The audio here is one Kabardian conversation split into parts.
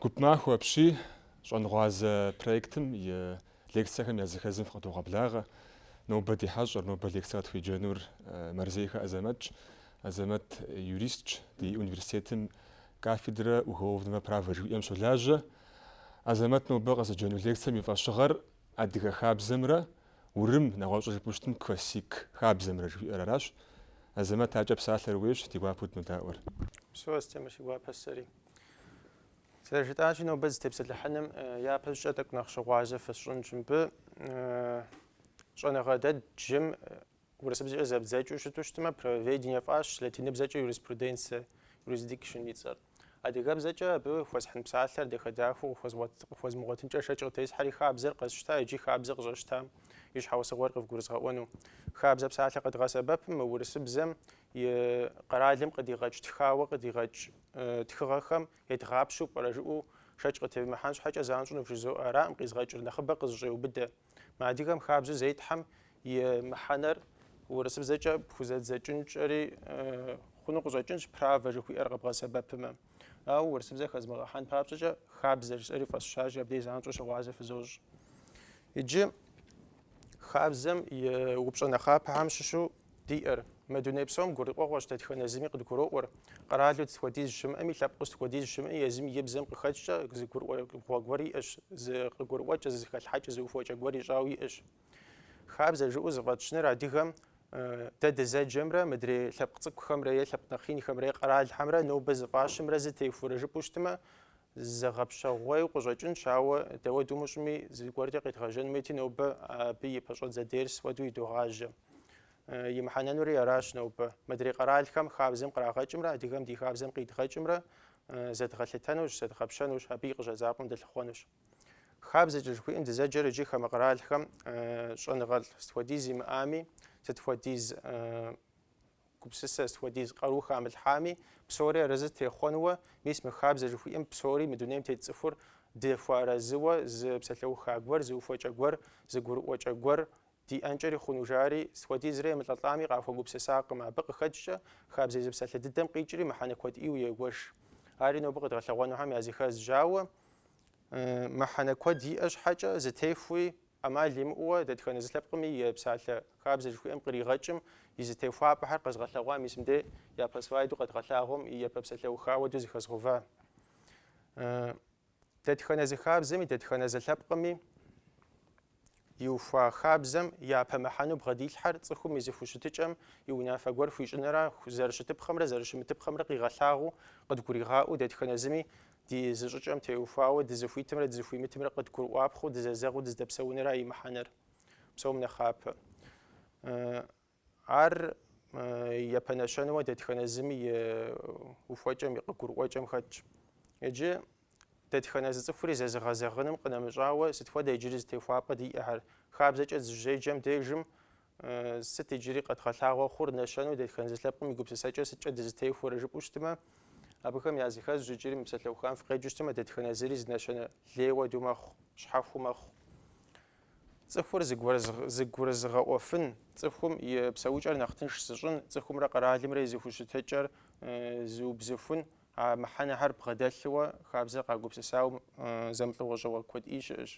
Гуп махуэ апщий, щӏэнгъуазэ проектым и лекцэхэм языхэзым фыкъыдогъэблагъэ. Нобэ ди хьэщӏэр, нобэ лекцэ къытхуеджэнур Мэрзейхэ Азэмэтщ. Азэмэт юристщ, ди университетым Кафедрэ уголовного права жыхуиӏэм щолажьэ Азэмэт нобэ къызэджэну лекцэм и фӏэщыгъэр адыгэ хабзэмрэ урым, нэгъуэщӏу жыпӏэу щытым, классик хабзэмрэ жыхуиӏэр аращ. Азэмэт акӏэ псалъэр ууейщ, ди гуапэу дынодаӏуэр. Упсэу, Астемыр, си гуапэщ сэри. Зэрыжытӏащи, нобэ зытепсэлъыхьыным япэщӏыкӏэ тӏэкӏу нэхъ щыгъуазэ фысщӏынщ мыбы. Щӏэныгъэ дэ дджым Урысыбзэкӏэ зэбдзэкӏыу щыту щытмэ, правоведение фӏащ, латиныбзэкӏэ юриспруденция, jurisdiction, и цӏэр. Адыгэбзэкӏэ абы хуэсхьын псалъэр дахэ-дахэу къыхуэзмыгъуэтынкӏэ шэч къытесхьэри хабзэр къэсщта иджы хабзэр къыщӏэсщтам и щхьэусыгъуэр къывгурызгъэӏуэну. Хабзэ псалъэ къэдгъэсэбэпым мы урысыбзэм и къэралым къыдигъэкӏ тхауэ къыдигъэкӏ тхыгъэхэм едгъапщэу пӏэрэ жыӏэу шэч къытевмыхьэн щхьэкӏэ занщӏэу вжызоӏэ аракъым къизгъэкӏыр, нэхъыбэ къызыщӏеубыдэ. Мы адыгэм хабзэу зетхьэм и мыхьэнэр урысыбзэкӏэ пхузэдзэкӏынкӏэри хъуну къыщӏэкӏынщ, правэ жыхуиӏэр къэбгъэсэбэпымэ. Ауэ урысыбзэ хэзмыгъэхьэн папщӏэкӏэ хабзэ жысӏэри фӏэсщащи, абдей занщӏэу щыгъуазэ фызощӏ. Иджы хабзэм и упщӏэ нэхъапэхэм щыщу Диӏэр. Мы дуней псом гурыӏуэгъуэщ дэтхэнэ зыми къыдгуроӏуэр. Къэралу сыт хуэдиз щымыӏэми, лъэпкъыу сыт хуэдиз щымыӏэми, езым и бзэм къыхэкӏкӏэ зы гурыӏуэгъуэ гуэр иӏэщ, зы къыгурыӏуэкӏэ, зы зэхэлъхьэкӏэ, зы ухуэкӏэ гуэр ищӏауэ иӏэщ. Хабзэ жыӏэу зыфӏэтщыныр адыгэм дэ дызэджэмрэ мыдрей лъэпкъ цӏыкӏухэмрэ е лъэпкъ нэхъ инхэмрэ е къэралхэмрэ нобэ зыфӏащымрэ зы техуурэ жыпӏэу щытмэ, зэгъэпщэгъуейу къыщӏэкӏынщ, ауэ дауэ дымыщӏми, зыгуэркӏэ къедгъэжьэн хуейти, нобэ абы и пэщӏэдзэ дерс хуэдэу едогъажьэ. и мыхьэнэнури аращ нобэ. Мыдрей къэралхэм хабзэм кърагъэкӏымрэ адыгэм ди хабзэм къидгъэкӏымрэ зэдгъэлъытэнущ, зэдгъэпщэнущ, абы и къыщӏэдзапӏэм дылъыхъуэнущ. Хабзэкӏэ жыхуиӏэм дызэджэр иджы хамэ къэралхэм щӏэныгъэлӏ сыт хуэдиз имыӏами, сыт хуэдиз гупсысэ, сыт хуэдиз къару хамылъхьами, псори арэзы техъуэнуэ, мис мы хабзэ жыхуиӏэм псори мы дунейм тет цӏыхур дыхуэарэзыуэ зы псалъэуха гуэр, зы ухуэкӏэ гуэр, зы гурыӏуэкӏэ гуэр Диӏэнкӏэри хъуну жари, сыт хуэдизрэ емылӏэлӏами къахуэгупсысакъым, абы къыхэкӏкӏэ хабзэ езы псалъэ дыдэм къикӏри мыхьэнэ куэд ӏейуэ егуэш. Ари нобэ къыдгъэлъэгъуэнухэм языхэзщ, ауэ мыхьэнэ куэд иӏэ щхьэкӏэ зытехуи ӏэмал имыӏэуэ, дэтхэнэ зы лъэпкъми псалъэ хабзэ жыхуиӏэм къригъэкӏым и зытехуапӏэхэр къэзгъэлъэгъуа мис мыдей япэ слайду къэдгъэлъагъуэм и япэ псалъэуха хуэдэу зыхэзгъэува Дэтхэнэ зы хабзэми, дэтхэнэ зы лъэпкъми иухуа хабзэм япэ мыхьэну бгъэдилъхьэр цӏыхум и зыхущытыкӏэм и унафэ гуэр хуищӏынэра зэрыщытыпхъэмрэ зэрыщымытыпхъэмрэ къигъэлъагъуу, къыдгуригъаӏуэу, дэтхэнэ зыми ди зыщӏыкӏэм теухуауэ дызыхуитымрэ дызыхуимытымрэ къыдгурыӏуапхъэу дызэзэгъыу дыздэпсэунэра и мыхьэнэр. Псом нэхъапэ. Ар япэ нэщэнэуэ дэтхэнэ зыми и ухуэкӏэм, и къыгурыӏуэкӏэм хэтщ. Иджы дэтхэнэ зы цӏыхури зэзыгъэзэгъыным къынэмыщӏауэ, сыт хуэдэ иджыри зытехуапӏэ диӏэхэр? Хабзэкӏэ дызыщеджэм дежым, сыт иджыри къэдгъэлъагъуэ хъур, нэщэнэу дэтхэнэ зы лъэпкъым и гупсысэкӏэр сыткӏэ дызытехуэрэ жыпӏэу щытмэ, абыхэм языхэзщ иджыри мы псалъэухам фыкъеджэу щытмэ, дэтхэнэ зыри зы нэщэнэ лей хуэдэу мэхъу, щхьэхуэу мэхъу. Цӏыхур зыгурызыгъэӏуэфын, цӏыхум и псэукӏэр нэхъ тынш зыщӏын, цӏыхумрэ къэралымрэ и зэхущытыкӏэр зыубзыхун, а мыхьэнэхэр бгъэдэлъыуэ хабзэр къагупсысауэ зэмылӏэужьыгъуэ куэд ӏей щыӏэщ.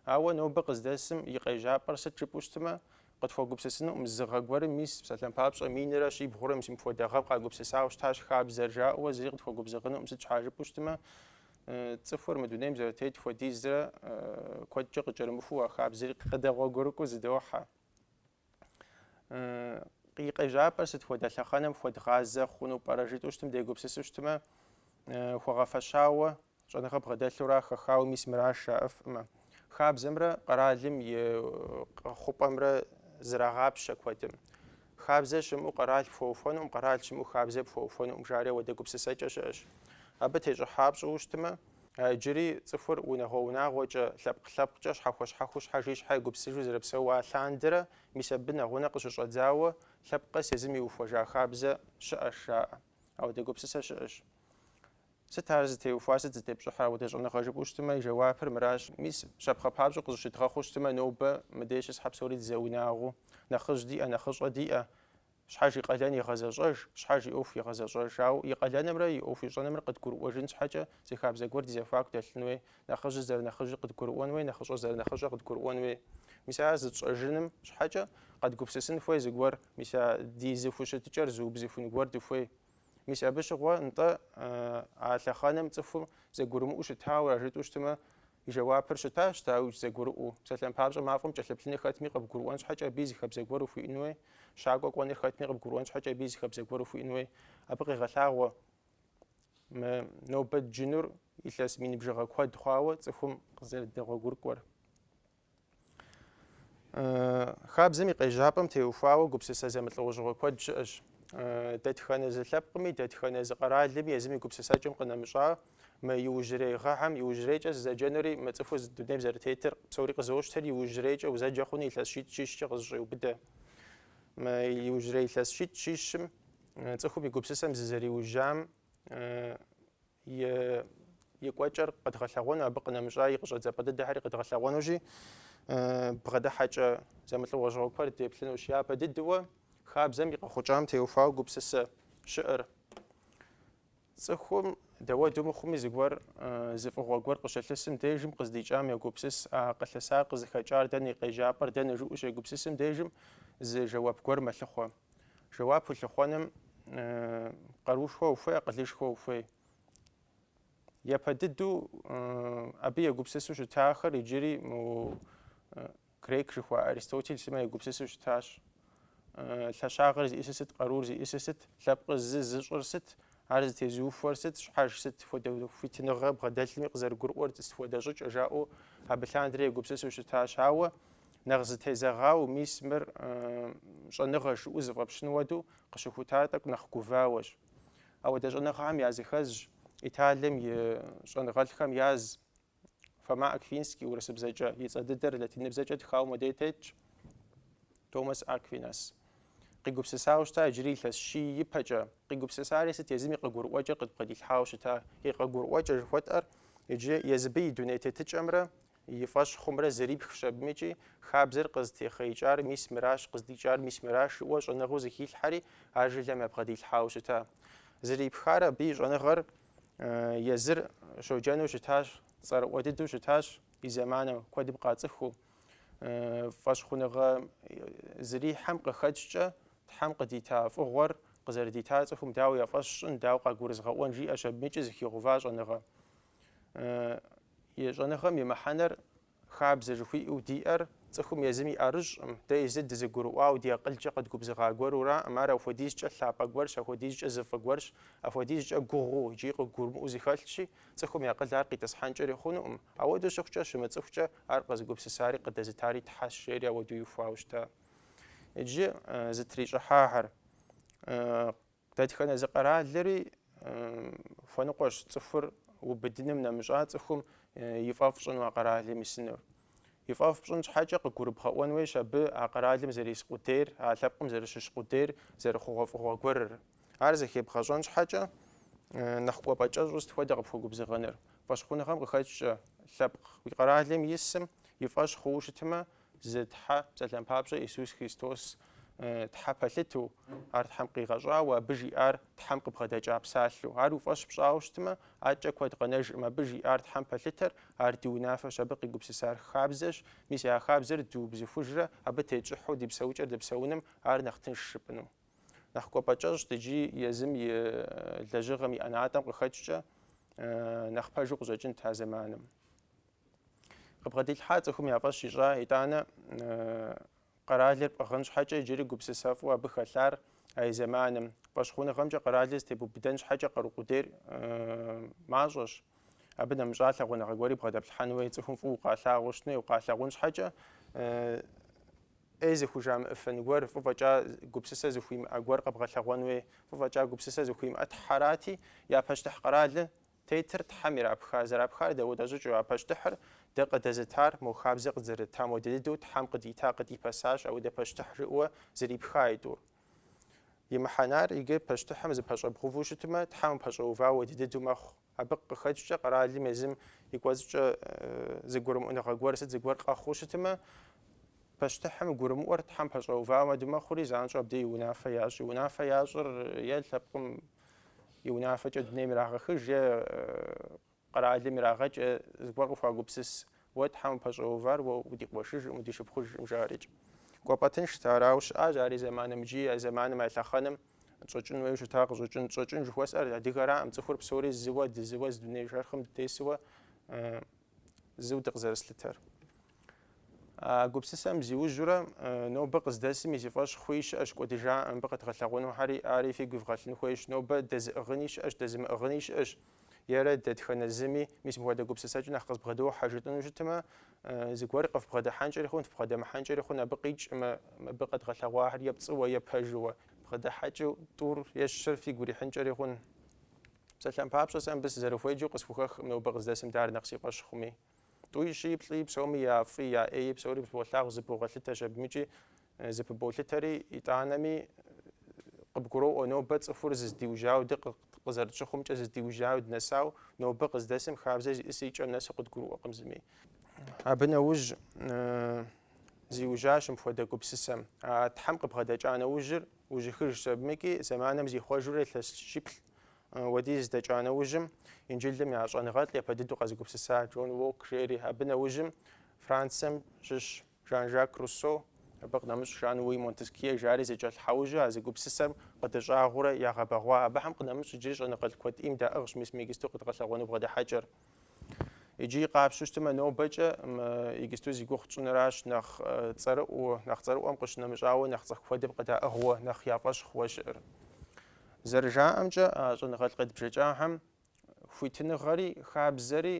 Ауэ нобэ къыздэсым и къежьапӏэр сыт жыпӏэу щытмэ, къытхуэгупсысынукъым, зы гъэ гуэрым мис псалъэм папщӏэ минрэ щибгъурэ мис мыпхуэдэ гъэм къагупсысауэ щытащ хабзэр жаӏэуэ зыри къытхуэгубзыгъынукъым, сыт щхьа жыпӏэу щытмэ, Цӏыхур мы дунейм зэрытет хуэдизрэ куэдкӏэ къыкӏэрымыхуу а хабзэри къыдэгъуэгурыкӏуэу зыдохьэ. И къежьапӏэр сыт хуэдэ лъэхъэнэм хуэдгъазэ хъуну пӏэрэ жытӏэу щытым дегупсысу щытмэ, хуэгъэфэщауэ, щӏэныгъэ бгъэдэлъурэ хэхауэ мис мыращ жаӏэфкъым. Хабзэмрэ къэралым и къэхъупӏэмрэ зэрагъапщэ куэдым. Хабзэ щымыӏэу къэрал пхуэухуэнукъым, къэрал щымыӏэу хабзэ пхуэухуэнукъым жари ауэдэ гупсысэкӏэ щыӏэщ. Абы тещӏыхьа пщӏыуэ щытмэ, иджыри цӏыхур унагъуэ-унагъуэкӏэ, лъэпкъ-лъэпкъкӏэ, щхьэхуэ-щхьэхуу, щхьэж и щхьэ егупсысыжу зэрыпсэуа лъандэрэ, мис абы нэгъунэ къыщыщӏэдзауэ, лъэпкъ къэс езым иухуэжа хабзэ щыӏэщ жаӏэ. Ауэдэ гупсысэ щыӏэщ. Сыт ар зытеухуар, сыт зытепщӏыхьыр ауэдэ щӏэныгъэ жыпӏэу щытмэ, и жэуапыр мыращ, мис, щапхъэ папщӏэу къызыщыдгъэхъуу щытмэ, нобэ мыдей щысхэ псори дызэунагъуу, нэхъыжь диӏэ, нэхъыщӏэ диӏэ, щхьэж и къалэн игъэзэщӏэж, щхьэж и ӏуэху игъэзэщӏэж. Ауэ и къалэнымрэ и ӏуэху ищӏэнымрэ къыдгурыӏуэжын щхьэкӏэ зы хабзэ гуэр ди зэхуаку дэлъын хуей, нэхъыжьыр зэрынэхъыжьыр къыдгурыӏуэн хуей, нэхъыщӏэр зэрынэхъыщӏэр къыдгурыӏуэн хуей. Мис ар зытщӏэжыным щхьэкӏэ къэдгупсысын хуей зыгуэр, мис а ди зыхущытыкӏэр зыубзыхун гуэр дыхуей. Мис абы щыгъуэ нтӏэ а лъэхъэнэм цӏыхум зэгурымыӏу щытауэра жытӏу щытмэ, и жэуапыр щытащ, дауи, зэгурыӏуэу. Псалъэм папщӏэ мафӏэм кӏэлъыплъыныр хэтми къыбгурыӏуэн щхьэкӏэ абы и зы хабзэ гуэр ухуиӏэн хуей? Щакӏуэ кӏуэныр хэтми къыбгурыӏуэн щхьэкӏэ абы и зы хабзэ гуэр ухуиӏэн хуей? Абы къегъэлъагъуэ мы нобэ дджынур илъэс мин бжыгъэ куэд хъуауэ цӏыхум къызэрыдэгъуэгурыкӏуэр. Хабзэм и къежьапӏэм теухуауэ гупсысэ зэмылӏэужьыгъуэ куэд щыӏэщ. Дэтхэнэ зы лъэпкъми, дэтхэнэ зы къэралми езым и гупсысэкӏэм къынэмыщӏа мы иужьрей гъэхьэм иужьрейкӏэ сызэджэнури, мы цӏыхур зы дунейм зэрытетыр псори къызощтэри иужьрейкӏэ узэджэ хъуну илъэс щитӏ щищкӏэ къызэщӏеубыдэ. Мы иужьрей илъэс щитӏ щищым цӏыхум и гупсысэм зызэриужьам и кӏуэкӏэр къэдгъэлъэгъуэну, абы къынэмыщӏа и къыщӏэдзапӏэ дыдэхэри къэдгъэлъэгъуэнущи, бгъэдыхьэкӏэ зэмылӏэужьыгъуэ куэд деплъынущ. Япэ дыдэу хабзэм и къэхъукӏам теухуауэ гупсысэ щыӏэр. Цӏыхум дауэду мыхъуми зыгуэр зы фӏыгъуэ гуэр къыщылъысым дежым къыздикӏам егупсыс, а къылъысар къызыхэкӏар дэнэ, и къежьапӏэр дэнэ жиӏэу щегупсысым дежым зы жэуап гуэр мэлъыхъуэ. Жэуап улъыхъуэным къарушхуэ ухуей, акъылышхуэ ухуей. Япэ дыдэу абы егупсысу щытахэр иджыри мо грек жыхуа Аристотель сымэ егупсысу щытащ. Лъэщагъыр зиӏысыр сыт, къарур зиӏысыр сыт, лъэпкъ зы зыщӏыр сыт, ар зытезыухуэр сыт, щхьэж сыт хуэдэ хуитыныгъэ бгъэдэлъми къызэрыгурыӏуэр сыт хуэдэ щӏыкӏэ жаӏэу абы лъандэрэ егупсысу щытащ. Ауэ Нэхъ зытезэгъауэ мис мыр щӏэныгъэщ жыӏу зыфӏэпщын хуэду къыщыхутар тӏэкӏу нэхъ гувауэщ. Ауэдэ щӏэныгъэхэм языхэзщ Италием и щӏэныгъэлӏхэм яз Фома Аквинский урысыбзэкӏэ, и цӏэ дыдэр латиныбзэкӏэ тхауэ модей тетщ Томас Аквинас. Къигупсысауэ щыта иджыри илъэс щий ипэкӏэ. Къигупсысари сыт езым и къыгурыӏуэкӏэр къыдбгъэдилъхьауэ щыта? И къыгурыӏуэкӏэ жыхуэтӏэр иджы езыбы и дуней тетыкӏэмрэ И фӏэщ хъумрэ зэрипхщ абымыкӏи, хабзэр къызытехъеикӏар мис мыращ, къыздикӏар мис мыращ жиӏэу щӏэныгъэу зыхилъхьэри, а жылэм ябгъэдилъхьауэ щыта. Зэрипхар абы и щӏэныгъэр езыр щоджэну щытащ, цӏэрыӏуэ дыдэу щытащ и зэманым, куэдым къацӏыхуу. Фӏэщхъуныгъэ зэрихьэм къыхэкӏкӏэ Тхьэм къыдита фӏыгъуэр къызэрыдитар цӏыхум дауэ я фӏэщ щӏын, дауэ къагурызгъэӏуэн жиӏэщ абымыкӏи зыхигъува щӏэныгъэ. И щӏэныгъэм и мыхьэнэр хабзэ жыхуиӏэу диӏэр цӏыхум езым и ӏэрыщӏым, дэ езыр дызэгурыӏуауэ ди акъылкӏэ къэдгубзыгъа гуэруракъым, ар апхуэдизкӏэ лъапӏэ гуэрщ, апхуэдизкӏэ зы фӏы гуэрщ, апхуэдизкӏэ гугъуу икӏи къыгурымыӏуэу зыхэлъщи, цӏыхум и акъыл ар къитӏысхьэнкӏэри хъунукъым. Ауэдэу щыхъукӏэ, щымыцӏыхукӏэ, ар къызыгупсысари къыдэзытари Тхьэщ, жери ауэдэу иухуауэ щыта. Иджы зытрищӏыхьахэр Дэтхэнэ зы къэралри хуэныкъуэщ цӏыхур убыдыным нэмыщӏа цӏыхум и фӏэфӏ щӏыну а къэралым исынур. И фӏэфӏ пщӏын щхьэкӏэ къыгурыбгъэӏуэн хуейщ абы а къэралым зэрис къудейр, а лъэпкъым зэрыщыщ къудейр зэрыхъугъуэфӏыгъуэ гуэрыр. Ар зэхебгъэщӏэн щхьэкӏэ нэхъ кӏуэпӏэ кӏэщӏу сыт хуэдэ къыпхуэгубзыгъэныр? Фӏэщхъуныгъэм къыхэкӏкӏэ, лъэпкъ уи къэралым исым и фӏэщ хъууэ щытмэ, Зы Тхьэ, псалъэм папщӏэ, Иисус Христос Тхьэ пэлъыту, ар Тхьэм къигъэщӏауэ, абы жиӏар Тхьэм къыбгъэдэкӏа псалъэу. Ар уи фӏэщ пщӏауэ щытмэ, адэкӏэ куэд къэнэжкъым. Абы жиӏар Тхьэм пэлъытэр, ар ди унафэщ, абы къигупсысар хабзэщ. Мис а хабзэр дыубзыхужрэ абы тетщӏыхьу ди псэукӏэр дэпсэуным ар нэхъ тынш жыпӏыну. Нэхъ кӏуэпӏэ кӏэщӏт иджы езым и лэжьыгъэм и ӏэнатӏэм къыхэкӏкӏэ нэхъ пэжу къыщӏэкӏынт а зэманым. Къыбгъэдилъхьа цӏыхум я фӏэщ ищӏа, итӏанэ къэралыр пӏыгъын щхьэкӏэ иджыри гупсысэфӏу абы хэлъар а и зэманым. Фӏэщхъуныгъэмкӏэ къэралыр зытебубыдэн щхьэкӏэ къару къудейр мащӏэщ. Абы нэмыщӏа лъагъуныгъэ гуэри бгъэдэплъхьэн хуей цӏыхум фӏыуэ укъалъагъуу щытын хуей, укъалъагъун щхьэкӏэ ӏей зыхужамыӏыфын гуэр, фӏы фӏэкӏа гупсысэ зыхуимыӏэ гуэр къэбгъэлъэгъуэн хуей, фӏы фӏэкӏа гупсысэ зыхуимыӏэ Тхьэрати, я пащтыхь къэралыр Тетыр Тхьэм ирапха, зэрапхар дауэдэ щӏыкӏыу, а пащтыхьыр дэ къыдэзытар, мо хабзэ къыдзэрытам хуэдэ дыдэу Тхьэм къыдита къыдипэсащ апхуэдэ пащтыхь жыӏуэ зэрипха и тӏур. И мыхьэнар иджы пащтыхьым зыпэщӏэбгъуву щытмэ, Тхьэм упэщӏэува хуэдэ дыдэу мэхъу. Абы къыхэкӏкӏэ къэралым езым и кӏуэцӏкӏэ зыгурымыӏуныгъэ гуэр сыт зыгуэр къэхъуу щытмэ, Пащтыхьым гурымыӏуэр Тхьэм пэщӏэува хуэдэ мэхъури, занщӏэу абдей и унафэ ящӏ. И унафэ ящӏыр е лъэпкъым и унафэкӏэ дунейм ирагъэхыж, е къэралым ирагъэкӏ, е зыгуэр къыхуагупсыс. Уэ Тхьэм упэщӏэувар уэ удикъуэшыжӏым, удишыпхъужӏым, жари икӏ. Кӏуэпӏэ тыншт, арауэ щыӏащ ар и зэманым икӏи а зэманым а лъэхъэнэм. Тщӏэкӏын хуейуэ щыта къыщӏэкӏын. Тщӏэкӏын жыхуэсӏэр адыгэраӏым, цӏыхур псори зыуэ, дызыуэ зы дуней шэрхъым дытесуэ зыу дыкъызэрыслъытэр. А гупсысэм зиужьурэ нобэ къыздэсым и зи фӏэщ хъуи щыӏэщ кӏуэдыжа мыбы къэдгъэлъэгъуэнухэри, ари фигу ивгъэлъын хуейщ, нобэ дэзыӏыгъыни щыӏэщ, дэзымыӏыгъыни щыӏэщ, ерэ дэтхэнэ зыми мис мыпхуэдэ гупсысэкӏэ нэхъ къызбгъэдохьэ жытӏыну щытмэ, зыгуэр къыфбгъэдыхьэнкӏэри хъун, фбгъэдэмыхьэнкӏэри хъун абы къикӏкъым, мыбы къэдгъэлъэгъуахэр е пцӏыуэ, е пэжыуэ. Бгъэдыхьэкӏыу тӏур е щыр фигу ирихьынкӏэри хъун. Псалъэм папщӏэ, сэ мыбы сызэрыхуеджэу къысхухэхкъым, нобэ къыздэсым дар нэхъ си фӏэщ хъуми. Тӏуи, щыи, плӏыи, псоми я фӏи, я ӏеи, псори болъагъу, зыпывгъэлъытэщ абымыкӏи, зыпыболъытэри, итӏанэми, къыбгуроӏуэ, нобэ цӏыхур зыздиужьауэ, дэ къызэрытщыхъумкӏэ зыздиужьауэ, дынэсауэ, нобэ къыздэсым хабзэ зищӏысыр и кӏэм нэсу къыдгурыӏуэкъым зыми. Абы нэужь зиужьащ мыпхуэдэ гупсысэм. А Тхьэм къыбгъэдэкӏа нэужьыр Ужьыхыжщ абымкӏи зэманым зихъуэжурэ илъэс щиплӏ уэдиз дэкӏа нэужьым, Инджылым я щӏэныгъэлӏ япэ дыдэу къэзыгупсыса Джон Локк жери, абы нэужьым Францием щыщ Жан-Жак Руссо, абы къынэмыщӏ Жан-Луи Монтескье жари зэкӏэлъхьэужьу а зы гупсысэм къыдыщӏагъуурэ ягъэбэгъуа. Абыхэм къынэмыщӏ иджыри щӏэныгъэлӏ куэд ӏейм даӏыгъщ мис мы игисту къыдгъэлъэгъуэну бгъэдыхьэкӏэр. Иджы къапщтэу щытмэ, нобэкӏэ игисту зи гугъу тщӏыныращ нэхъ цӏэрыӏуэу, нэхъ цӏэрыӏуэм къыщынэмыщӏауэ нэхъ цӏыху куэдым къыдаӏыгъыуэ, нэхъ я фӏэщ хъууэ щыӏэр. Зэрыжаӏэмкӏэ, а щӏэныгъэлӏ къедбжэкӏахэм хуитыныгъэри хабзэри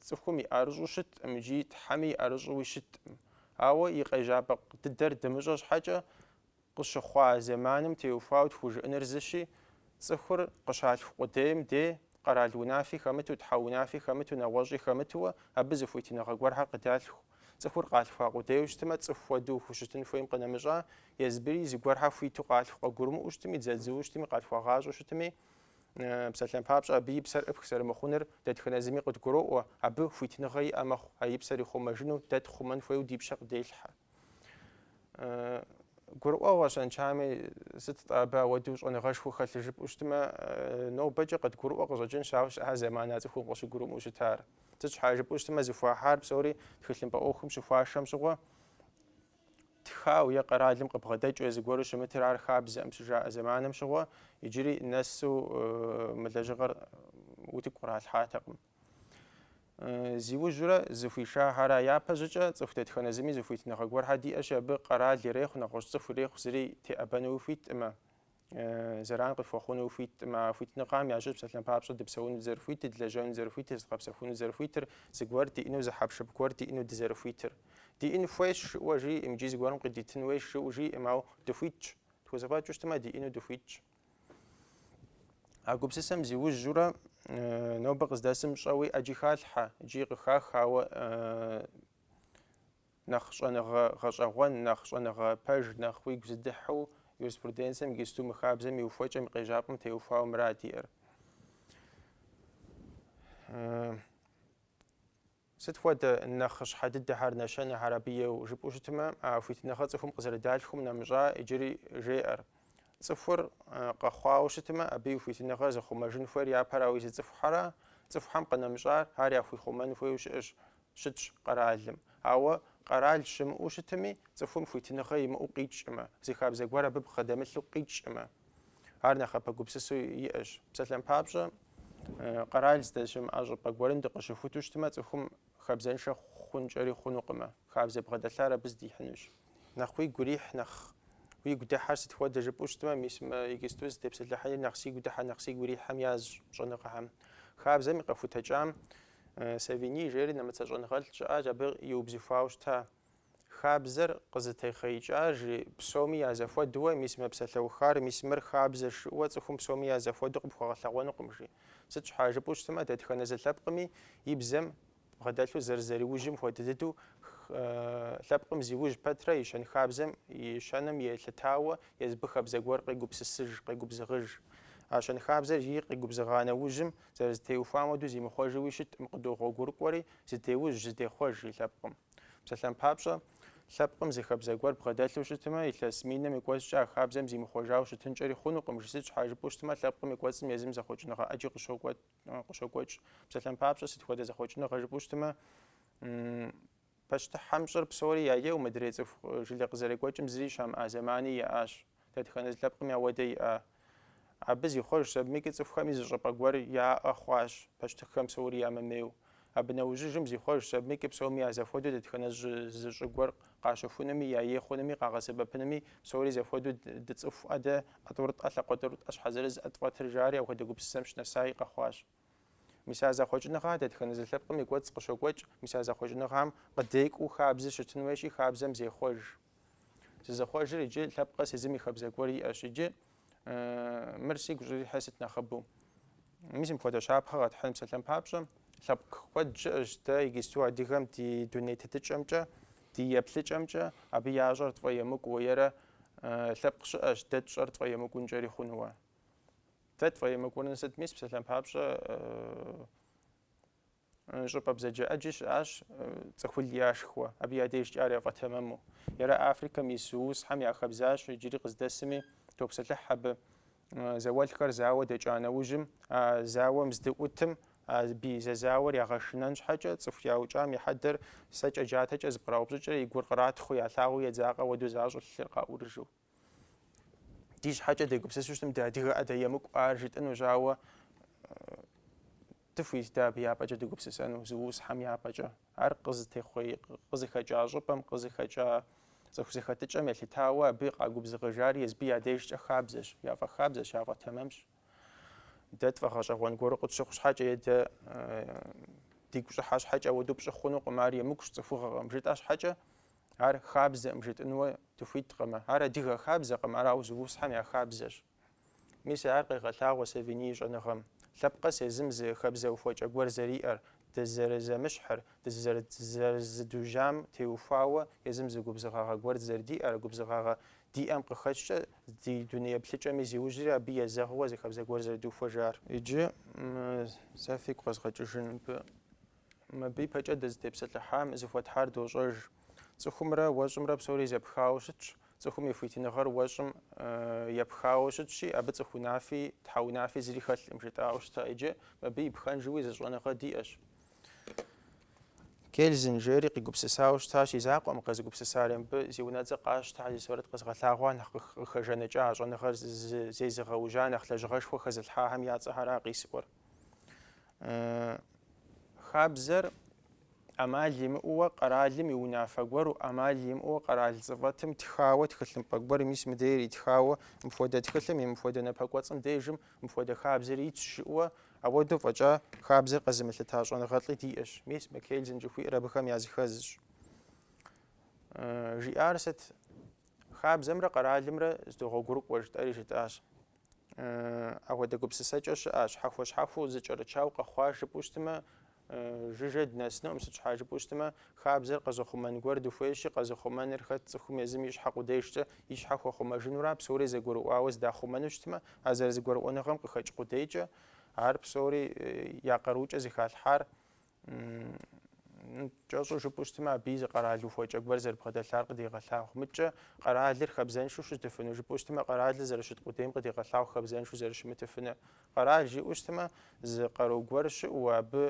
цӏыхум и ӏэрыщӏу щытӏым икӏи Тхьэми и ӏэрыщӏуи щытӏым. Ауэ и къежьапӏэ дыдэр дымыщӏэ щхьэкӏэ, Къыщыхъуа зэманым теухуауэ тхужыӏэныр зыщи, цӏыхур къыщалъху къудейм дей, къэрал унафи хэмыту, тхьэ унафи хэмыту, нэгъуэщӏи хэмытууэ, абы зы хуитыныгъэ гуэрхэр къыдалъху. Цӏыхур къалъхуа къудейуэ щытмэ, цӏыху хуэдэу хущытын хуейм къынэмыщӏа, езыбыри зыгуэрхэр хуиту къалъху, къыгурымыӏуэу щытми, дзадзууэ щытми, къалъхуагъащӏэу щытми, псалъэм папщӏэ, абы и псэр ӏыпх зэрымыхъуныр дэтхэнэ зыми къыдгуроӏуэ, абы хуитыныгъэ иӏэ мэхъу, а и псэр ихъумэжыну дэ тхъумэн хуейуэ ди пщэ къыделъхьэ. Гурыӏуэгъуэ щэнчами, сыт-тӏэ абы ауэдэу щӏэныгъэшхуэ хэлъыр жыпӏэу щытмэ, нобэкӏэ къыдгурыӏуэ къыщӏэкӏынщ, ауэ щыӏэ зэман а цӏыхум къыщыгурымыӏуэу щытар. Сыт щхьа жыпӏэу щытмэ, зыхуахьар псори тхылъымпӏэ ӏуэхум щыхуашэм щыгъуэ, тхауэ е къэралым къыбгъэдэкӏыу зыгуэру щымытыр ар хабзэӏым щыжаӏэ зэманым щыгъуэ, иджыри нэсу мы лэжьыгъэр утыку къралъхьатэкъым. Зиужьурэ зыхуишахьэра япэщӏыкӏэ цӏыху дэтхэнэ зыми зы хуитыныгъэ гуэрхьэ диӏэщи, абы къэрал ирехъу, нэгъуэщӏ цӏыху ирехъу зыри теӏэбэнуи хуитӏымэ, зэран къыхуэхъунуи хуитӏымэ, а хуитыныгъэм ящыщ псалъэм папщӏэ дыпсэуну дызэрыхуитыр, длэжьэну дызэрыхуитыр, зыдгъэпсэхуну дызэрыхуитыр, зыгуэр диӏэну, зы хьэпшып гуэр диӏэну дызэрыхуитыр. Диӏэн хуейщ жиӏэу жиӏэӏым икӏи зыгуэрым къыдитын хуейщ жиӏэу жиӏэӏым, ауэ дыхуитщ. Тхузэфӏэкӏыу щытмэ, диӏэну дыхуитщ. А гупсысэм зиужьурэ нобэ къыздэсым щӏэуи ӏэджи халъхьэ, икӏи къыхах, ауэ нэхъ щӏэныгъэ гъэщӏэгъуэн, нэхъ щӏэныгъэ пэж, нэхъ уигу зыдыхьу юриспруденцэм игисту мы хабзэм и ухуэкӏэм и къежьапӏэм теухуауэ мыра диӏэр. Сыт хуэдэ нэхъыщхьэ дыдэхэр, нэщэнэхэр абы иӏэу жыпӏэу щытмэ, а хуитыныгъэ цӏыхум къызэрыдалъхум нэмыщӏа иджыри жеӏэр. Цӏыхур къэхъуауэ щытмэ, абы и хуитыныгъэр зыхъумэжын хуейр япэрауэ езы цӏыхухьэра. Цӏыхухьэм къынэмыщӏар ар яхуихъумэн хуейуэ щыӏэщ, щытщ къэралым. Ауэ къэрал щымыӏэу щытми, цӏыхум хуитыныгъэ имыӏэу къикӏкӏымэ, зы хабзэ гуэр абы бгъэдэмылъу къикӏкӏымэ? Ар нэхъапэ гупсысэу иӏэщ. Псалъэм папщӏэ, къэрал здэщымыӏэ щӏыпӏэ гуэрым дыкъыщыхуту щытмэ, цӏыхум хабзэншэ хъункӏэри хъунукъымэ. Хабзэ бгъэдэлъар абы здихьынущ. Нэхъ уигу ирихь, нэхъ уигу дыхьэр сыт хуэдэ жыпӏэу щытмэ, мис мы иджысту зытепсэлъыхьри нэхъ сигу дыхьэ, нэхъ сигу ирихьэм язщ щӏэныгъэхэм. Хабзэм и къэхутэкӏам Савиньи жери нэмыцэ щӏэныгъэлӏ щыӏащ, абы иубзыхуауэ щыта. Хабзэр къызытехъеикӏа, жи, псоми я зэхуэдуэ, мис мы псалъэухар, мис мыр хабзэщ жыӏуэ цӏыхум псоми я зэхуэду къыпхуэгъэлъэгъуэнукъым, жи. Сыт щхьа жыпӏэу щытмэ, дэтхэнэ зы лъэпкъми и бзэм бгъэдэлъу зэрызэриужьым хуэдэ дыдэу лъэпкъым зиужь пэтрэ и щэнхабзэм и щэным елъытауэ езыбы хабзэ гуэр къегупсысыж, къегубзыгъыж. А щэнхабзэри къигубзыгъа нэужьым, зэрызэтеухуам хуэдэу зимыхъуэжуи щыткъым, къыдогъуэгурыкӏуэри, зыдеужь, зыдехъуэж и лъэпкъым. Псалъэм папщӏэ, лъэпкъым зы хабзэ гуэр бгъэдэлъу щытмэ, илъэс миным и кӏуэцӏкӏэ а хабзэм зимыхъуэжауэ щытынкӏэри хъунукъым, жи, сыт щхьа жыпӏэу щытмэ, лъэпкъым и кӏуэцӏым езым зэхъуэкӏыныгъэ ӏэджи къыщокӏуэкӏ. Псалъэм папщӏэ, сыт хуэдэ зэхъуэкӏыныгъэ жыпӏэу щытмэ, пащтыхьым щӏыр псори яеу мыдрей цӏыху жылэ къызэрекӏуэкӏым зыри щамыӏа зэмани иӏащ. Дэтхэнэ зы лъэпкъми ауэдэ иӏа? Абы зихъуэжщ, абымыкӏи цӏыхухэми зы щӏапӏэ гуэр яӏэ хъуащ, пащтыхьхэм псори ямымейуэ. Абы нэужьыжым зихъуэжщ, абымыкӏи псоми я зэхуэдэу дэтхэнэ жьы зы щӏы гуэр къащэхунуми, я ей хъунуми, къагъэсэбэпынуми, псори зэхуэдэу дыцӏыхуӏэ дэ, ӏэ тӏурытӏэ, лъакъуэ тӏурытӏэ, щхьэ зырызӏэ тфӏэтыр, жари апхуэдэ гупсысэм щынэсаи къэхъуащ. Мис а зэхъуэкӏыныгъэ дэтхэнэ зы лъэпкъым и кӏуэцӏ къыщокӏуэкӏ, мис а зэхъуэкӏыныгъам къыдекӏуу хабзэ щытын хуейщи, хабзэм зехъуэж. Зызыхъуэжыр иджы лъэпкъ къэс езым и хабзэ гуэр иӏэщ иджы, мыр сигу щӏрихьыр сыт нэхъыбэу. Мис мыпхуэдэ щапхъэ къэтхьын, псалъэм папщӏэ, лъэпкъ куэд щыӏэщ дэ иджысту адыгэм ди дуней тетыкӏэмкӏэ, ди еплъыкӏэмкӏэ, абы ящӏэр тфӏэемыкӏуу, ерэ лъэпкъ щыӏэщ дэ тщӏэр тфӏэемыкӏункӏэри хъунууэ. Дэ тфӏэемыкӏуныр сыт? Мис псалъэм папщӏэ щӏыпӏэ бзаджэ ӏэджи щыӏащ цӏыхул яшхуэ, абы я дежкӏэ ар яфӏэтэмэму. Ерэ Африкэм ис зулусхэм я хабзащ, иджыри къыздэсми топсэлъыхь абы. Зауэлӏхэр зауэ дэкӏа нэужьым, а зауэм здыӏутым а бий зэзауэр ягъэшынэн щхьэкӏэ, цӏыху яукӏам и хьэдэр сэкӏэ-джатэкӏэ зэпкъраупщӏыкӏрэ и гур къратхъу, ялъагъуу едзакъэ уэду защӏу лъыр къаӏурыжу. ди щхьэкӏэ дегупсысу щытым дыадыгэӏэ дэ, емыкӏу ар жытӏынущ, ауэ дыхуит дэ абы япӏэкӏэ дыгупсысэну зулусхэм япӏэкӏэ. Ар къызытехъуей, къызыхэкӏа щӏыпӏэм, къызыхэкӏа цӏыху зэхэтыкӏэм елъытауэ абы къагубзыгъэжар езыби я дежкӏэ хабзэщ, яфӏэхабзэщ, яфӏэтэмэмщ. Дэ тфӏэгъэщӏэгъуэн гуэру къытщыхъу щхьэкӏэ е дэ дигу щӏыхьа щхьэкӏэ ауэдэу пщӏы хъунукъым, ар емыкӏущ, цӏыхугъэкъым. Жытӏа щхьэкӏэ Ар хабзэкъым жытӏынуэ дыхуиткъымэ. Ар адыгэ хабзэкъым, ар Аузыусхьэм я хабзэщ. Мис ар къегъэлъагъуэ Савиний и щӏэныгъэм. Лъэпкъ къэс езым зы хабзэ ухуэкӏэ гуэр зэриӏэр, дызэрызэмыщхьыр, дызэрызыдужьам теухуауэ езым зы губзыгъагъэ гуэр зэрыдиӏэр, губзыгъагъэ диӏэм къыхэкӏкӏэ ди дуней еплъыкӏэми зиужьри абы езэгъыуэ зы хабзэ гуэр зэрыдухуэжар. Иджы сэ фигу къэзгъэкӏыжын мыбы. Мыбы ипэкӏэ дызытепсэлъыхьам зыхуэтхьар дощӏэж. Цӏыхумрэ уэщӏымрэ псори зэпхауэ щытщ, цӏыхум и хуитыныгъэр уэщӏым епхауэ щытщи, абы цӏыху унафи тхьэ унафи зыри хэлъкъым, жытӏауэ щыта иджы, мыбы и пхэнжуи зы щӏэныгъэ диӏэщ. Кельзен жери къигупсысауэ щытащ и закъуэкъым къэзыгупсысари мыбы зи унэцӏэ къащтэ, зи сурэт къэзгъэлъагъуа нэхъ къыхэжаныкӏа, а щӏэныгъэр зезыгъэужьа нэхъ лэжьыгъэшхуэ хэзылъхьахэм я цӏэхэра къисӏуэр. Хабзэр ӏэмал имыӏууэ къэралым и унафэ гуэру, ӏэмал имыӏууэ къэрал цӏыфӏэтым тхауэ тхылъымпӏэ гуэр, мис мыдейр итхауэ, мыпхуэдэ тхылъым и мыпхуэдэ напэкӏуэцӏым дежым мыпхуэдэ хабзэр итщ жыӏуэ, ауэдэу фӏэкӏа хабзэр къэзымылъыта щӏэныгъэлӏи диӏэщ, мис мы Кельзен жыхуиӏэр абыхэм языхэзщ. Жиӏар сыт? Хабзэмрэ къэралымрэ зэдогъуэгурыкӏуэ жытӏэри жытӏащ. Апхуэдэ гупсысэкӏэ щыӏа, щхьэхуэ-щхьэхуэу зэкӏэрычауэ къэхъуа жыпӏэу щытмэ, жыжьэ днэсынукъым, сыт щхьа жыпӏэу щытмэ, хабзэр къэзыхъумэн гуэр дыхуейщи, къэзыхъумэныр хэт цӏыхум езым и щхьэ къудейшкӏэ и щхьэ хуэхъумэжынура, псори зэгурыӏуауэ зэдахъумэну щытмэ, а зэрызэгурыӏуэныгъэм къыхэкӏ къудейкӏэ, ар псори я къарукӏэ зэхалъхьар, кӏэщӏу жыпӏэу щытмэ, абы зы къэрал ухуэкӏэ гуэр зэрыбгъэдэлъар къыдегъэлъагъу. Мыдкӏэ къэралыр хабзэншэу щытыфыну, жыпӏэу щытмэ, къэралыр зэрыщыт къудейм къыдегъэлъагъу хабзэншэу зэрыщымытыфыну. Къэрал жиӏэу щытмэ, зы къару гуэр щыӏэу, абы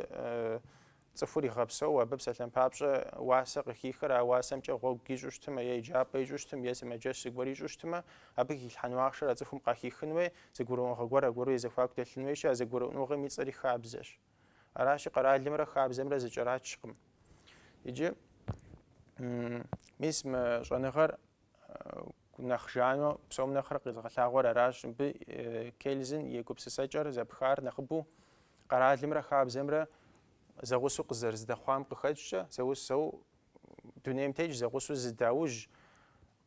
цӏыхур игъэпсэу, абы псалъэм папщӏэ уасэ къыхихыр, а уасэмкӏэ гъуэгу ищӏу щытмэ, е еджапӏэ ищӏу щытым, е сымаджэщ зыгуэр ищӏу щытмэ, абы хилъхьэну ахъшэр а цӏыхум къахихын уей, зэгурыӏуэныгъэ гуэр аргуэру я зэхуаку дэлъын уейщи, а зэгурыӏуэныгъэм и цӏэри хабзэщ. Аращи, къэралымрэ хабзэмрэ зэкӏэрачкъым. Иджы мис мы щӏэныгъэр нэхъ жануэ псом нэхърэ къэзыгъэлъагъуэр аращ. Мыбы Кельзен и гупсысэкӏэр зэпхар нэхъыбэу къэралымрэ хабзэмрэ зэгъусэу къызэрыздэхъуам къыхэкӏкӏэ, зэгъусэу дунейм тетщ, зэгъусэу зыдаужь,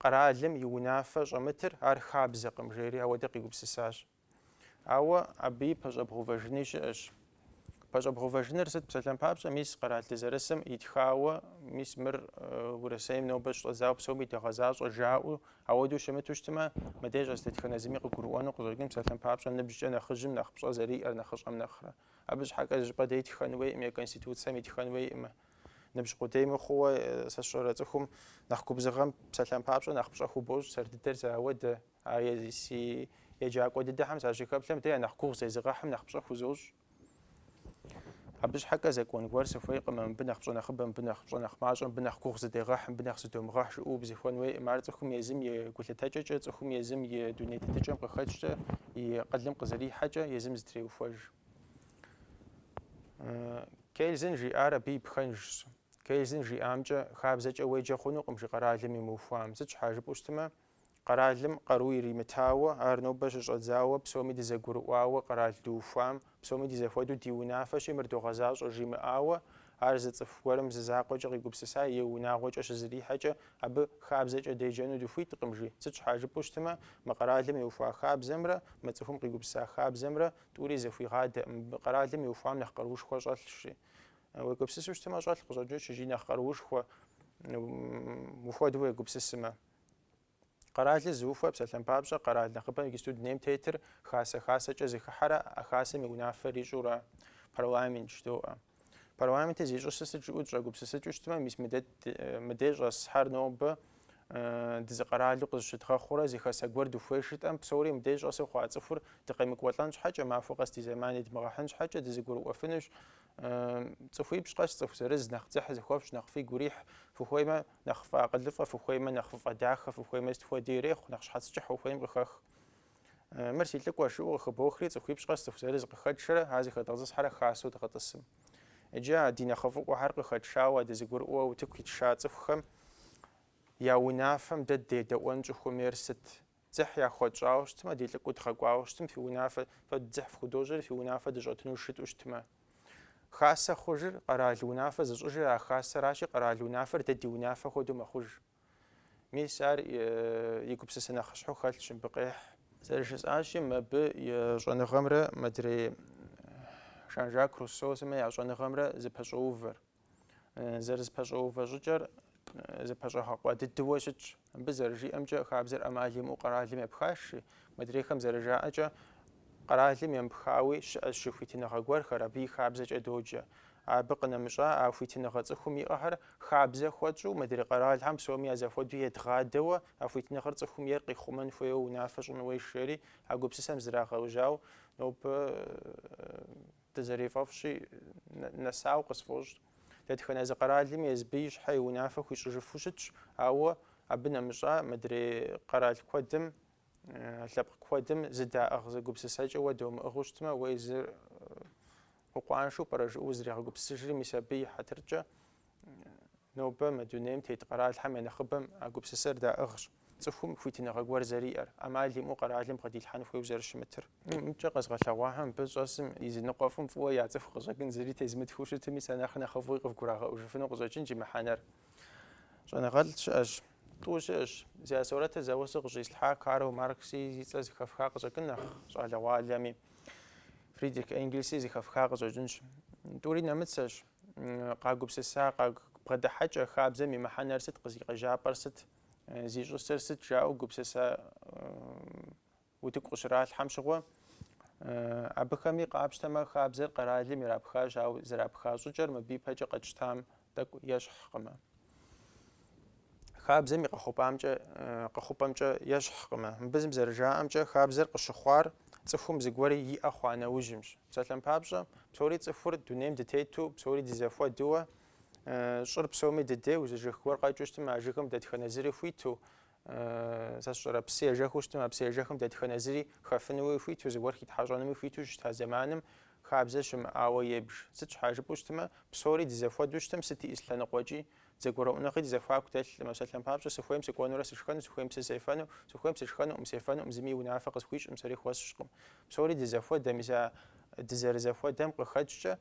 къэралым и унафэ щӏэмытыр ар хабзэкъым жери ауэдэ къигупсысащ. Ауэ абыи пэщӏэбгъувэжыни щыӏэщ. Пэщӏэбгъувэжыныр сыт? Псалъэм папщӏэ, мис къэрал дызэрысым итхауэ, мис мыр Урысейм нобэ щыщӏэдзауэ псоми догъэзащӏэ жаӏэу, ауэдэу щымыту щытмэ, мыдей щӏэс дэтхэнэ зыми къыгурыӏуэну къыщӏэкӏын псалъэм папщӏэ ныбжькӏэ нэхъыжьым нэхъ пщӏэ зэриӏэр нэхъыщӏэм нэхърэ. Абы щхьэкӏэ зы щӏыпӏэ дей итхэн хуейкъым е Конституцэм итхэн хуейкъымэ. Ныбжь къудей мыхъууэ, сэ сщӏэрэ цӏыхум нэхъ губзыгъэм псалъэм папщӏэ нэхъ пщӏэ хубощӏ сэр дыдэр зауэдэ. А си еджакӏуэ дыдэхэм сащыхэплъэм, дэ я нэхъ гугъу зезыгъэхьым нэхъ пщӏэ хузощӏ. Абы щхьэкӏэ закон гуэр сыхуейкъым, а мыбы нэхъ пщӏэ нэхъыбэ, мыбы нэхъ пщӏэ нэхъ мащӏэ, мыбы нэхъ гугъу зыдегъэхь, мыбы нэхъ зыдомыгъэхь жыӏэу убзыхун хуейкъым. Ар цӏыхум езым и гулъытэкӏэкӏэ, цӏыхум езым и дуней тетыкӏэм къыхэкӏкӏэ, и акъылым къызэрихьэкӏэ езым зытреухуэж. Кельзен жиӏар абы и пхэнжщ. Кельзен жиӏамкӏэ, хабзэкӏэ уеджэ хъунукъым, жи, къэралым имыухуам. Сыт щхьа жыпӏэу щытмэ, Къэралым къару иримытауэ, ар нобэ щыщӏэдзауэ, псоми дызэгурыӏуауэ къэрал дыухуам, псоми ди зэхуэдэу ди унафэщи мыр догъэзащӏэ жимыӏауэ, ар зы цӏыху гуэрым зы закъуэкӏэ къигупсыса е унагъуэкӏэ щызэрихьэкӏэ абы хабзэкӏэ деджэну дыхуиткъым, жи. Сыт щхьа жыпӏэу щытмэ, мы къэралым иухуа хабзэмрэ мы цӏыхум къигупсыса хабзэмрэ тӏури зэхуигъадэкъым, мыбы къэралым иухуам нэхъ къаруушхуэ щӏэлъщ, жи. Уегупсысу щытмэ, щӏэлъ къыщӏэкӏынщ икӏи нэхъ къаруушхуэ ухуэдэу уегупсысымэ. Къэралыр зыухуэ псалъэм папщӏэ, къэрал нэхъыбэм иджысту дунейм тетыр хасэ-хасэкӏэ зыхыхьэрэ а хасэм и унафэр ищӏурэ парламент жыдоӏэ. Парламентыр зищӏысыр сыт жыӏэу дыщӏэгупсысыкӏыу щытмэ, мис мыдей щӏэсхэр нобэ дызыкъэралу къызыщыдгъэхъурэ зы хасэ гуэр дыхуей жытӏэм, псори мыдей щӏэсу хъуа цӏыхур дыкъемыкӏуэлӏэн щхьэкӏэ, махуэ къэс ди зэман едмыгъэхьын щхьэкӏэ дызыгурыӏуэфынущ. Цӏыхуипщӏ къэс цӏыху зырыз, нэхъ дзыхь зыхуэфщӏ, нэхъ фигу ирихь, фыхуеймэ, Нэхъ ффӏэакъылыфӏэ фыхуеймэ, нэхъ ффӏэдахэ фыхуеймэ, сыт хуэди ирехъу, нэхъ щхьэц кӏыхь ухуейм къыхэх. Мыр си лӏыкӏуэщ, жыӏэу къыхыбохри, цӏыхуипщӏ къэс цӏыху зырыз къыхэтшэрэ, ар зыхэдгъэтӏысхьэрэ хасэу дгъэтӏысым. Иджы а ди нэхъыфӏыӏуэхэр къыхэтшауэ, дызыгурыӏуэу утыку итша цӏыхухэм я унафэм дэ дедэӏуэн щӏыхуэмейр сыт? Дзыхь яхуэтщӏауэ щытмэ, ди лӏыкӏуэу дгъэкӏуауэ щытым, фи унафэ, фэ дзыхь фхудощӏри, фи унафэ дыщӏэтынущ жытӏэу щытмэ. Хасэ хъужыр, къэрал унафэ зыщӏыжыр а хасэращи, къэрал унафэр дэ ди унафэ хуэдэу мэхъуж. Мис ар и гупсысэ нэхъыщхьэу хэлъщ мыбы къехь. Зэрыжысӏащи, мыбы и щӏэныгъэмрэ мыдрей Жан-Жак Руссо сымэ я щӏэныгъэмрэ зыпэщӏоувэр. Зэрызэпэщӏэувэ щӏыкӏэр зэпэщӏэгъэкъуэ дыдыуэ щытщ. Абы зэрыжиӏэмкӏэ, хабзэр ӏэмал имыӏэу къэралым епхащи, мыдрейхэм зэрыжаӏэкӏэ, къэралым емыпхауи щыӏэщ жи хуитыныгъэ гуэрхэр, абы и хабзэкӏэ доджэ. Абы къынэмыщӏа а хуитыныгъэ цӏыхум иӏэхэр хабзэ хуэтщӏу, мыдрей къэралхэм псоми я зэхуэдэу едгъадэуэ, а хуитыныгъэр цӏыхум ейр къихъумэн хуейуэ унафэ щӏын хуейщ жери а гупсысэм зрагъэужьауэ нобэ Дызэрифӏэфӏщи, нэсауэ къысфӏощӏ. Дэтхэнэ зы къэралми езбы и щхьэ и унафэ хуищӏыжыфу щытщ, ауэ абы нэмыщӏа мыдрей къэрал куэдым, лъэпкъ куэдым зэдаӏыгъ зы гупсысэкӏэ уэ домыӏыгъыу щытмэ, уэ езыр укъуаншэу пӏэрэ жыӏэу узригъэгупсысыжри, мис абы и хьэтыркӏэ Нобэ мы дунейм тет къэралхэм я нэхъыбэм а гупсысэр даӏыгъщ, цӏыхум хуитыныгъэ гуэр зэриӏэр, ӏэмал имыӏэу къэралым къыдилъхьэн хуейуэ зэрыщымытыр. Мыдэкӏэ къэзгъэлъэгъуахэм мыбы щӏэсым и зы ныкъуэфӏым фӏыуэ яцӏыху къыщӏэкӏын зыри тезмытхыу щытми, сэ нэхъ нэхъыфӏуи къывгурагъэӏужыфыну къыщӏэкӏынщ и мыхьэнэр. Щӏэныгъэлӏ щыӏэщ. Тӏу щыӏэщ. Зи я сурэтыр зэуэ сэ къыщӏислъхьа Карл Маркси зи цӏэ зыхэфха къыщӏэкӏын нэхъ щӏалэгъуалэми, Фридрих Энгельси зыхэфха къыщӏэкӏынщ. Тӏури нэмыцэщ. Къагупсыса бгъэдыхьэкӏэ хабзэм и мыхьэнэр сыт, къыз и къежьапӏэр сыт, зищӏысыр сыт жаӏэу гупсысэ утыку къыщралъхьэм щыгъуэ, абыхэми къапщтэмэ хабзэр къэралым ирапхащ, ауэ зэрапха щӏыкӏэр мыбы ипэкӏэ къэтщтам тӏэкӏу ещхькъымэ. хабзэм и къэхъупӏамкӏэ къэхъупӏэмкӏэ ещхькъымэ. Мыбы зым зэрыжаӏэмкӏэ, хабзэр къыщыхъуар цӏыхум зыгуэр иӏэ хъуа нэужьымщ. Псалъэм папщӏэ, псори цӏыхур дунейм дытету, псори дызэхуэдэуэ, щӏыр псоми дыдейуэ, зы жыг гуэр къэкӏыу щытым а жыгым дэтхэнэ зыри хуиту, Сэ сщӏэрэ, псы ежэхыу щытым, а псы ежэхым дэтхэнэ зыри хэфынуи хуиту, зыгуэр хитхьэщӏэнуи хуиту щыта зэманым хабзэ щымыӏауэ ебж. Сыт щхьа жыпӏэу щытмэ, псори дызэхуэдэу щытым, сыт и и зы лъэныкъуэкӏи, зэгурыӏуэныгъи ди зэхуаку дэлъкъым. Псалъэм папщӏэ, сыхуейм сыкӏуэнурэ сышхэну, сыхуейм псы сефэну, сыхуейм сышхэнукъым, сефэнукъым, зыми и унафэ къысхуищӏкъым, сэри хуэсщӏкъым. Псори дызэхуэдэ, мис а дызэрызэхуэдэм къыхэкӏкӏэ,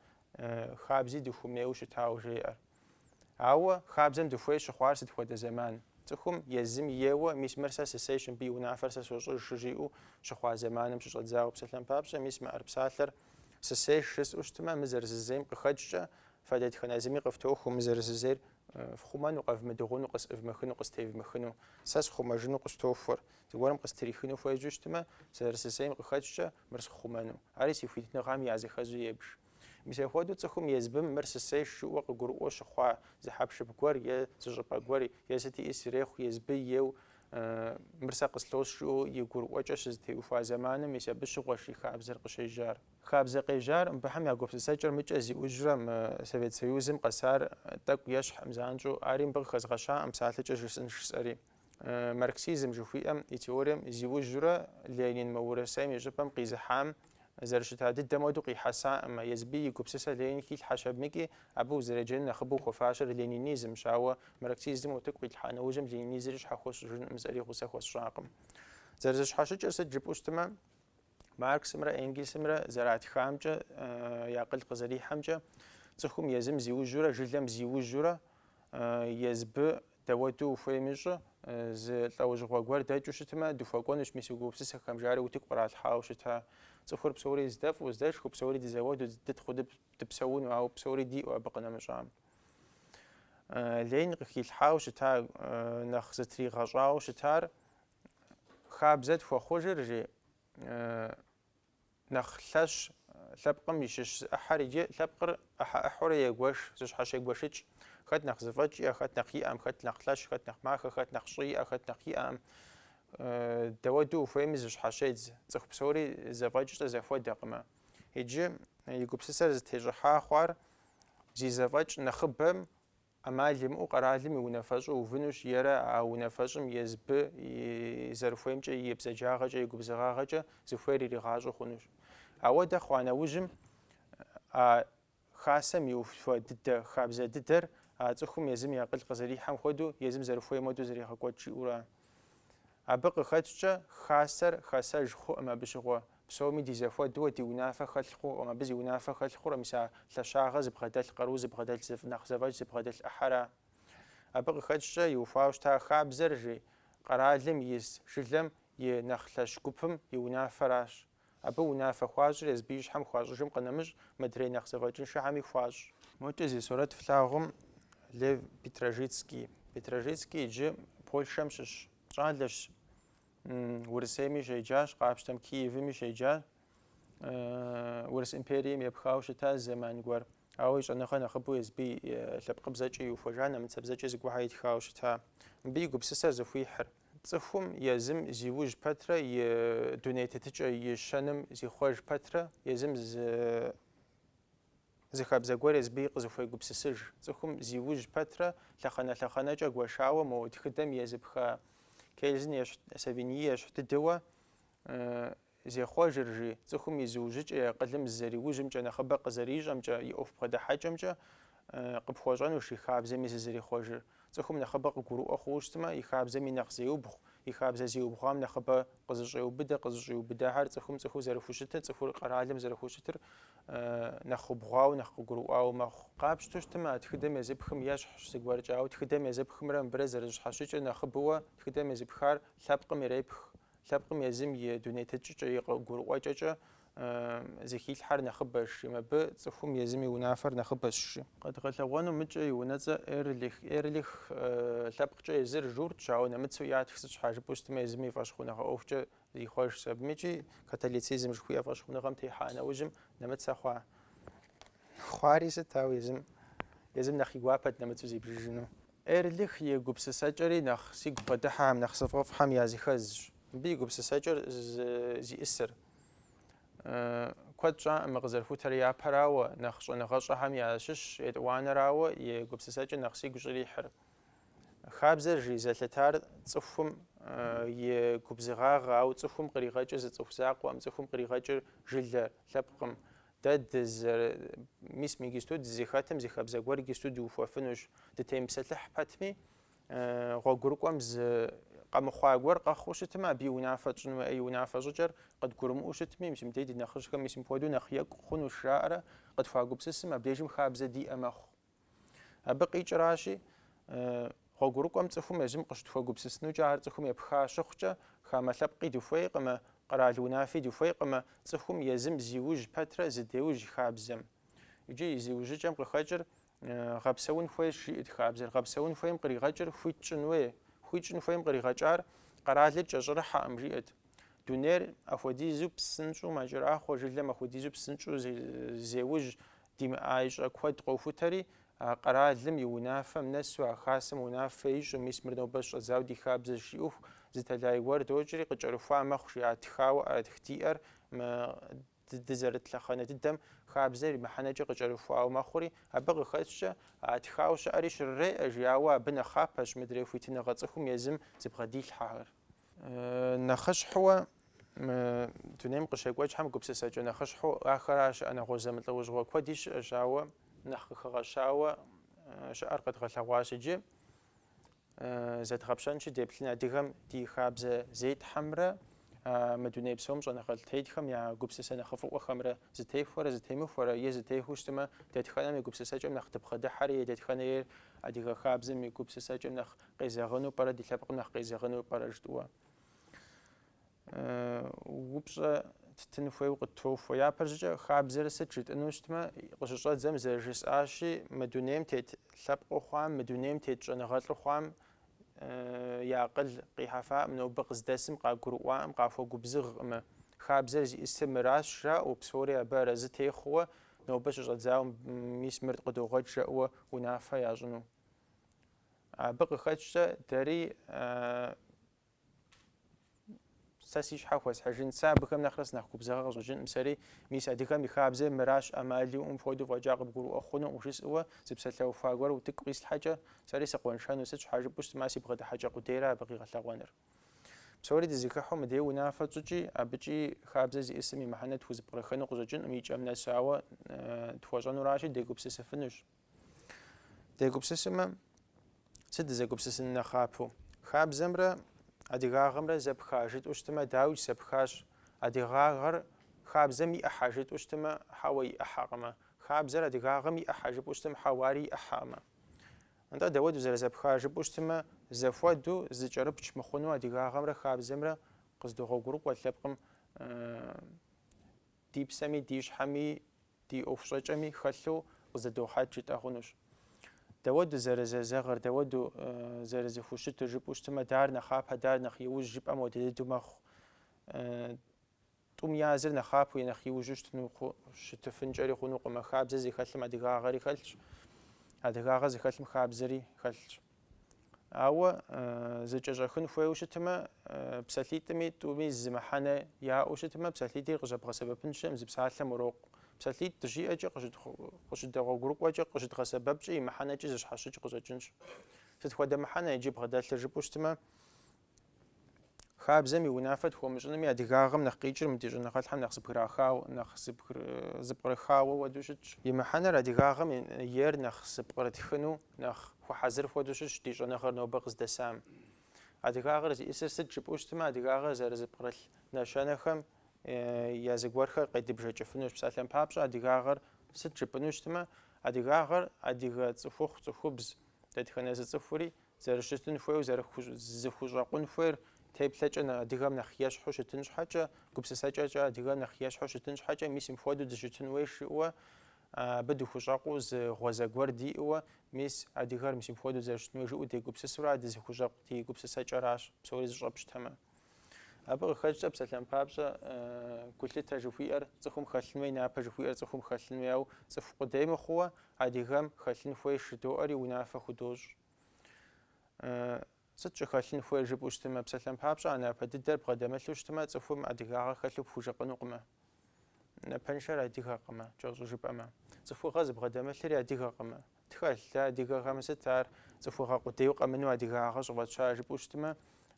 хабзи дыхуэмейуэ щытауэ жеӏэр. Ауэ хабзэм дыхуей щыхъуар сыт хуэдэ зэман? Цӏыхум езым ейуэ, мис мыр сэ сысейщ, мыбы и унафэр сэ сощӏыж щыжиӏэу щыхъуа зэманым щыщӏэдзауэ псалъэм папщӏэ, мис мы ӏэрыпсалъэр сысейщ жысӏэу щытмэ, мы зэрысысейм къыхэкӏкӏэ фэ дэтхэнэ зыми къыфтохуэу мы зэрысысейр фхъумэну, къэвмыдыгъуну, къысӏывмыхыну, къыстевмыхыну, сэ схъумэжыну къыстохуэр. Зыгуэрым къыстрихыну хуежьэу щытмэ, зэрысысейм къыхэкӏкӏэ, мыр схъумэну. Ари си хуитыныгъэм я зэхэзу ебж. Мис апхуэдэу цӏыхум езбым мыр сысейщ жиӏэу къыгурыӏуэу щыхъуа зы хьэпшып гуэр е зы щӏыпӏэ гуэр е сыт иӏи срехъу езбы ейуэ мыр сэ къыслос жиӏэу и гурыӏуэкӏэ щызэтеухуа зэманым мис абы щыгъуэщ и хабзэр къыщежьар. Хабзэ къежьар мыбыхьэм я гупсысэкӏэр мыкӏэ зиужьрэ мы Совет Союзым къэсар тӏэкӏу ещхьӏым занщӏэу ари мыбы къыхэзгъэщаӏым псалъэкӏэ жысӏынщ жысӏэри. Марксизм жыхуиӏэм и теорием зиужьурэ Ленин мы Урысейм и щӏыпӏэм къизыхьам зэрыщыта дыдэм уэду къихьэсаӏымэ, езбы и гупсысэ Ленин хилъхьэщ абыкӏи, абы узэреджэну нэхъыбэу хуэфащэр ленинизмщ, ауэ марксизмым утыку къилъхьа нэужьым ленинизри щхьэхуэ сщӏыжынкъым сэри гъусэ хуэсщӏакъым. Зэрызыщхьэщыкӏыр сыт жыпӏэу щытымэ, Марксымрэ Энгельсымрэ зэратхамкӏэ, я акъыл къызэрихьэмкӏэ, цӏыхум езым зиужьурэ жылэм зиужьурэ, езбы Дэуэду ухуейми щӏы, зы лӏэужьыгъуэ гуэр дэкӏыу щытмэ, дыхуэкӏуэнущ мис а гупсысэхэм, жари утыку къралъхьауэ щыта. Цӏыхур псори здэфӏу, здэшхыу, псори дызэуэду, дытхъуу дыпсэуну, ауэ псори диӏэу абы къынэмыщӏам. Ленин къыхилъхьауэ щыта, нэхъ зытригъэщӏауэ щытар хабзэ тхуэхъужыр, жи. Нэхъ лъэщ лъэпкъым и щыщ зы ӏыхьэр иджы лъэпкъыр ӏыхьэ ӏыхьэурэ егуэш, зыщхьэщегуэшыкӏ. Хэт нэхъ зэфӏэкӏ иӏэ, хэт нэхъ иӏэӏым, хэт нэхъ лъэщ, хэт нэхъ махэ, хэт нэхъ щӏы иӏэ, хэт нэхъ иӏэӏым. Дауэду ухуейми зыщхьэщедз, цӏыху псори зэфӏэкӏкӏэ зэхуэдэкъымэ. Иджы и гупсысэр зытещӏыхьа хъуар зи зэфӏэкӏ нэхъыбэм ӏэмал имыӏэу къэралым и унафэщӏу увынущ ерэ а унафэщӏым езбы и зэрыхуеймкӏэ и бзаджагъэкӏэ, и губзыгъагъэкӏэ зыхуейр иригъащӏэу хъунущ. Ауэдэ хъуа нэужьым, а хасэм иухуа дыдэ, хабзэ дыдэр а цӏыхум езым и акъыл къызэрихьэм хуэдэу, езым зэрыхуейм хуэдэу зэрегъэкӏуэкӏ, жиӏэурэ. Абы къыхэкӏкӏэ хасэр хасэж хъуӏым, абы щыгъуэ псоми ди зэхуэдэу ди унафэ хэлъ хъуӏым, абы зи унафэ хэлъ хъур мис а лъэщагъэ зыбгъэдэлъ къару зыбгъэдэлъ зыфӏ нэхъ зэфӏэкӏ зыбгъэдэлъ ӏыхьэра. Абы къыхэкӏкӏэ иухуауэ щыта а хабзэр, жи, къэралым ис жылэм и нэхъ лъэщ гупым и унафэращ. Абы унафэ хуащӏыр езбы и щхьэм хуащӏыжым къынэмыщӏ, мыдрей нэхъ зэфӏэкӏыншэхэми хуащӏ. Мокӏэ зи сурэт флъагъум Лев Петражицкий. Петражицкий иджы Польшэм щыщ щӏалэщ. Урысейми щеджащ, къапщтэм Киевми щеджащ. Урыс империем епхауэ щытащ зэман гуэр. Ауэ и щӏэныгъэ нэхъыбэу езбы и лъэпкъыбзэкӏэ иухуэжа нэмыцэбзэкӏэ зыгуэрхэ итхауэ щыта мыбы и гупсысэр зыхуихьыр. Цӏыхум езым зиужь пэтрэ и дуней тетыкӏэ и щэным зихъуэж пэтрэ езым зы зы хабзэ гуэр езбы къызыхуегупсысыж, цӏыхум зи ужь пэтрэ лъэхъэнэ-лъэхъэнэкӏэ гуэшауэ мо тхыдэм езыпха Кельзен ещхь Савиньи ещхь дыдэуэ Зехъуэжыр, жи, цӏыхум и зыужьыкӏэ и акъылым зызэриужьымкӏэ, нэхъыбэ къызэрищӏэмкӏэ, и ӏуэху бгъэдыхьэкӏэмкӏэ къыпхуэщӏэнущ и хабзэми зызэрихъуэжыр. Цӏыхум нэхъыбэ къыгурыӏуэ хъууэ щытмэ, и хабзэми нэхъ зеубгъу, и хабзэ зиубгъуам нэхъыбэ къызыщӏеубыдэ, къызыщӏиубыдахэр цӏыхум цӏыхуу зэрыхущытыр, цӏыхур къэралым зэрыхущытыр нэхъ убгъуауэ, нэхъ къыгурыӏуауэ мэхъу. Къапщтэу щытмэ, а тхыдэм езыпхым ещхьщ зыгуэркӏэ, ауэ тхыдэм езыпхымрэ мыбырэ зэрыщхьэщыкӏыр нэхъыбэуэ, тхыдэм езыпхар лъэпкъым ирепх, Лъэпкъым езым и дуней тетыкӏэкӏэ, и гурыӏуэкӏэкӏэ зыхилъхьэр нэхъыбэщ, мыбы цӏыхум езым и унафэр нэхъыбэщи. Къэдгъэлъэгъуэну мыкӏэ и унэцӏэ Эрлих, Эрлих, лъэпкъкӏэ езыр журтщ, ауэ нэмыцэу ятх сыт щхьа жыпӏэу щытмэ езым и фӏэщхъуныгъэ ӏуэхукӏэ зихъуэжщ. Абыми икӏи католицизм жыхуиӏэ фӏэщхъуныгъэм техьа нэужьым нэмыцэ хъуа? Хъуари сыт, ауэ езым, езым нэхъ и гуапэт нэмыцэу зибжыжыну. Эрлих и гупсысэкӏэри нэхъ сигу къыдыхьэхэм, нэхъ сфӏэфӏхэм языхэзщ. Мыбы и гупсысэкӏэр зиӏысыр. Куэд щӏакъымэ къызэрыхутэр япэрауэ, нэхъ щӏэныгъэщӏэхэм ящыщщ етӏуанэрауэ и гупсысэкӏэр нэхъ сигу щӏрихьыр. Хабзэр жи зэлъытар цӏыхум и губзыгъагъэ, ауэ цӏыхум къригъэкӏыр зы цӏыху закъуэкъым, цӏыхум къригъэкӏыр жылэ лъэпкъкъым, Дэ дыдэр, мис мы гисту дызэхэтым зы хабзэ гуэр гисту дыухуэфынущ. Дытемыпсэлъыхь пэтми, гъуэгурыкӏуэм зы къэмыхъуа гуэр къэхъуу щытмэ, абы и унафэ тщӏын хуейуэ, и унафэ щӏыкӏэр къыдгурымыӏуэу щытми, мис мыбдеж ди нэхъыжьхэм мис мыпхуэдэу нэхъ екӏу хъунущ жаӏэрэ, къытхуагупсысым, абдежым хабзэ диӏэ мэхъу. Абы къикӏыращи, гъуэгурыкӏуэм цӏыхум езым къыщытхуэгупсысынукӏэ ар цӏыхум епха щыхъукӏэ, хамэ лъэпкъи дыхуейкъымэ, къэрал унафи дыхуейкъымэ, цӏыхум езым зиужь пэтрэ зыдеужь хабзэм. Иджы и зиужьыкӏэм къыхэкӏыр гъэпсэун хуейщ, жиӏэт хабзэр. Гъэпсэун хуейм къригъэкӏыр хуит щӏын хуей. Хуит щӏын хуейм къригъэкӏар къэралыр кӏэщӏырыхьэкъым, жиӏэт. Дунейр апхуэдизу псынщӏэу мэкӏэрахъуэ, жылэм апхуэдизу псынщӏэу зеужь димыӏа щӏэ куэд къохутэри, а къэралым и унафэм нэсу а хасэм унафэ ищӏу, мис мыр нобэ щщӏэдзауэ ди хабзэщ, жиӏэху зы тэлай гуэр докӏри, къыкӏэрыхуа мэхъу, жиӏат тхауэ ӏэрытх диӏэр, мы Дызэрыт лъэхъэнэ дыдэм хабзэр и мыхьэнэкӏэ къыкӏэрыхуауэ мэхъури, абы къыхэкӏкӏэ, а тхауэ щыӏэри щрыреӏэж, ауэ абы нэхъапэщ мыдрей хуитыныгъэ цӏыхум езым зыбгъэдилъхьэхэр. Нэхъыщхьэуэ, мы дунейм къыщекӏуэкӏхэм гупсысэкӏэ нэхъыщхьэу ахэращ щыӏэ, нэгъуэщӏ зэмылӏэужьыгъуэ куэди щыӏэщ, ауэ нэхъ къыхэгъэщауэ щыӏэр къэдгъэлъэгъуащ иджы. Зэдгъэпщэнщи, деплъын адыгэм ди хабзэ зетхьэмрэ мы дуней псом щӏэныгъэлӏ тетхэм я гупсысэ нэхъыфӏыӏуэхэмрэ зытехуэрэ зытемыхуэрэ е зытехуэу щытмэ, дэтхэнэм и гупсысэкӏэм нэхъ дыбгъэдыхьэрэ е дэтхэнэйр адыгэ хабзэм и гупсысэкӏэм нэхъ къезэгъыну пӏэрэ, ди лъэпкъым нэхъ къезэгъыну пӏэрэ жытӏуэ. упщӏэ ттын хуейуэ къыттохуэ. Япэщӏыкӏэ хабзэр сыт жытӏыну щытмэ, къыщыщӏэдзэм зэрыжысӏащи, мы дунейм тет лъэпкъыу хъуам, мы дунейм тет щӏэныгъэлӏу хъуам я акъыл къихьэфакъым, нобэ къыздэсым къагурыӏуакъым, къахуэгубзыгъкъымэ. Хабзэр зиӏысыр мыращ, жаӏэу, псори абы арэзы техъуэу, нобэ щыщӏэдзауэ мис мыр къыдогъуэт жаӏэуэ унафэ ящӏыну. Абы къыхэкӏкӏэ дэри Сэ си щхьэ хуэсхьыжын. Сэ абыхэм нэхърэ сынэхъ губзыгъэ къыщӏэкӏынкъым сэри. Мис адыгэм и хабзэр мыращ, ӏэмал иӏэу мыхуэдэу фӏэкӏа къыбгурыӏуэ хъунукъым жысӏэуэ зы псалъэуха гуэр утыку къислъхьэкӏэ, сэри сыкъуэншэну. Сыт щхьэ жыпӏэу щытмэ, си бгъэдыхьэкӏэ къудейрэ абы къигъэлъэгъуэныр. Псори дызэхыхьэу мыдей унафэ тщӏыкӏи, абыкӏи хабзэ зиӏысым и мыхьэнэ тхузэпкърыхыну къыщӏэкӏынкъым и кӏэм нэсу, ауэ тхуэщӏэнуращи, дегупсысыфынущ. Дегупсысымэ, сыт дызэгупсысын нэхъапэу? Хабзэмрэ адыгагъэмрэ зэпха жытӏэу щытымэ, дауикӏ зэпхащ. Адыгагъэр хабзэм и ӏыхьэ жытӏэу щытымэ, хьэуэ и ӏыхьэкъымэ. Хабзэр адыгагъэм и ӏыхьэ жыпӏэу щытым, хьэуэ ари и ӏыхьэкъымэ. Нтӏэ, дауэду зэрызэпха жыпӏэу щытымэ, зэхуэдэу зыкӏэрыпч мыхъуну адыгагъэмрэ хабзэмрэ къыздогъуэгурыкӏуэ лъэпкъым Ди псэми ди щхьэми ди ӏуэхущӏэкӏэми хэлъу къызэдохьэкӏ жытӏэ хъунущ. Дауэду зэрызэзэгъыр, дауэду зэрызыхущытыр жыпӏэу щытмэ, дар нэхъапэ, дар нэхъ иужь жыпӏэм хуэдэ дыдэу мэхъу. Тӏум языр нэхъапэу е нэхъ иужьу щытыну щытыфынкӏэри хъунукъымэ. Хабзэ зыхэлъым адыгагъэри хэлъщ, адыгагъэ зыхэлъым хабзэри хэлъщ. Ауэ зыкӏэщӏэхын хуейуэ щытмэ, псалъитӏми тӏуми зы мыхьэнэ яӏэу щытмэ, псалъитӏри къыщӏэбгъэсэбэпын щыӏэкъым, зы псалъэм урокъу. Псалъитӏ дыщиӏэкӏэ, къыщыдэгъуэгурыкӏуэкӏэ, къыщыдгъэсэбэпкӏэ и мыхьэнэкӏи зыщхьэщыкӏ къыщӏэкӏынщ. Сыт хуэдэ мыхьэнэ иджы бгъэдэлъыр жыпӏэу щытмэ, Хабзэм и унафэ тхуэмыщӏынми адыгагъэм нэхъ къикӏыр мы ди щӏэныгъэлӏхэм нэхъ зыпкърахау, нэхъ зыпкърыхауэ хуэдэу щытщ. И мыхьэнэр адыгагъэм ейр нэхъ зыпкърытхыну нэхъ хуэхьэзыр хуэдэу щытщ ди щӏэныгъэр нобэ къыздэсам. Адыгагъэр зиӏысыр сыт жыпӏэу щытмэ, адыгагъэр зэрызыпкърылъ нэщэнэхэм я зыгуэрхэр къедыбжэкӏыфынущ. Псалъэм папщӏэ, адыгагъэр сыт жыпӏэну щытмэ, адыгагъэр адыгэ цӏыхухъу, цӏыхубз, дэтхэнэ зы цӏыхури Зэрыщытын хуейуэ, зэрызыхущӏэкъун хуейр теплъэкӏэ адыгэм нэхъ ещхьу щытын щхьэкӏэ, гупсысэкӏэкӏэ адыгэм нэхъ ещхьу щытын щхьэкӏэ, мис мыпхуэдэу дыщытын хуей жиӏэуэ, абы дыхущӏэкъуу зы гъуэзэ гуэр диӏэуэ, мис адыгэр мис мыпхуэдэу зэрыщытын хуей жиӏэу дегупсысурэ, а дызыхущӏэкъу ди гупсысэкӏэращ, псори зыщӏэпщтэмэ. Абы къыхэкӏкӏэ псалъэм папщӏэ гулъытэ жыхуиӏэр цӏыхум хэлъын хуей, напэ жыхуиӏэр цӏыхум хэлъын хуей, ауэ цӏыху къудей мыхъууэ адыгэм хэлъын хуей шыдоӏэри унафэ худощӏ. Сыт щӏыхэлъын хуейр жыпӏэу щытымэ, псалъэм папщӏэ а напэ дыдэр бгъэдэмылъу щытымэ, цӏыхум адыгагъэ хэлъу пхужыӏэнукъымэ. Напэншэр адыгэкъымэ, кӏэщӏу жыпӏэмэ. Цӏыхугъэ зыбгъэдэмылъри адыгэкъымэ. Тхэлъ дэ адыгэхэм сыт ар цӏыхугъэ къудейуэ къэмынэу адыгагъэ щӏыфӏэтща жыпӏэу щытмэ,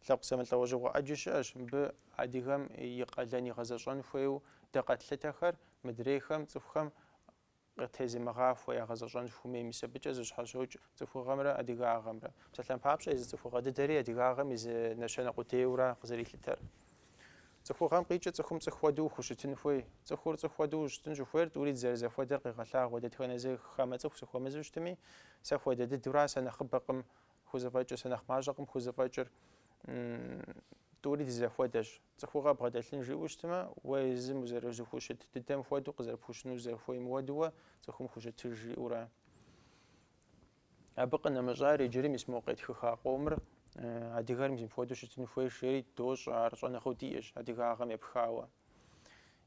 лъэпкъ зэмылӏэужьыгъуэ ӏэджи щыӏэщ, мыбы адыгэм и къалэн игъэзэщӏэн хуейуэ дэ къэтлъытэхэр мыдрейхэм, цӏыхухэм къытезымыгъахуэ ягъэзэщӏэн хуэмей, мис абыкӏэ зэщхьэщокӏ цӏыхугъэмрэ адыгагъэмрэ. Псалъэм папщӏэ, езы цӏыхугъэ дыдэри адыгагъэм и зы нэщэнэ къудейуэра къызэрилъытэр. Цӏыхугъэм къикӏыр цӏыхум цӏыху хуэдэу ухущытын хуей. Цӏыхур цӏыху хуэдэу ущытын щӏыхуейр тӏури дызэрызэхуэдэр къегъэлъагъуэ. Дэтхэнэ зы хамэ цӏыху сыхуэмызу щытми, сэ хуэдэ дыдэура сэ нэхъыбэкъым хузэфӏэкӏыр, сэ нэхъ мащӏэкъым хузэфӏэкӏыр, тӏури дызэхуэдэщ. Цӏыхугъэ бгъэдэлъын жиӏэу щытмэ, уэ езым узэрызыхущыт дыдэм хуэдэу къызэрыпхущыну зэрыхуейм хуэдэуэ цӏыхум хущытыж жиӏэурэ. Абы къынэмыщӏар иджыри мис мо къетхыха къомыр адыгэр мис мыпхуэдэу щытын хуейщ, жери дощӏэ, ар щӏэныгъэу диӏэщ адыгагъэм епхауэ.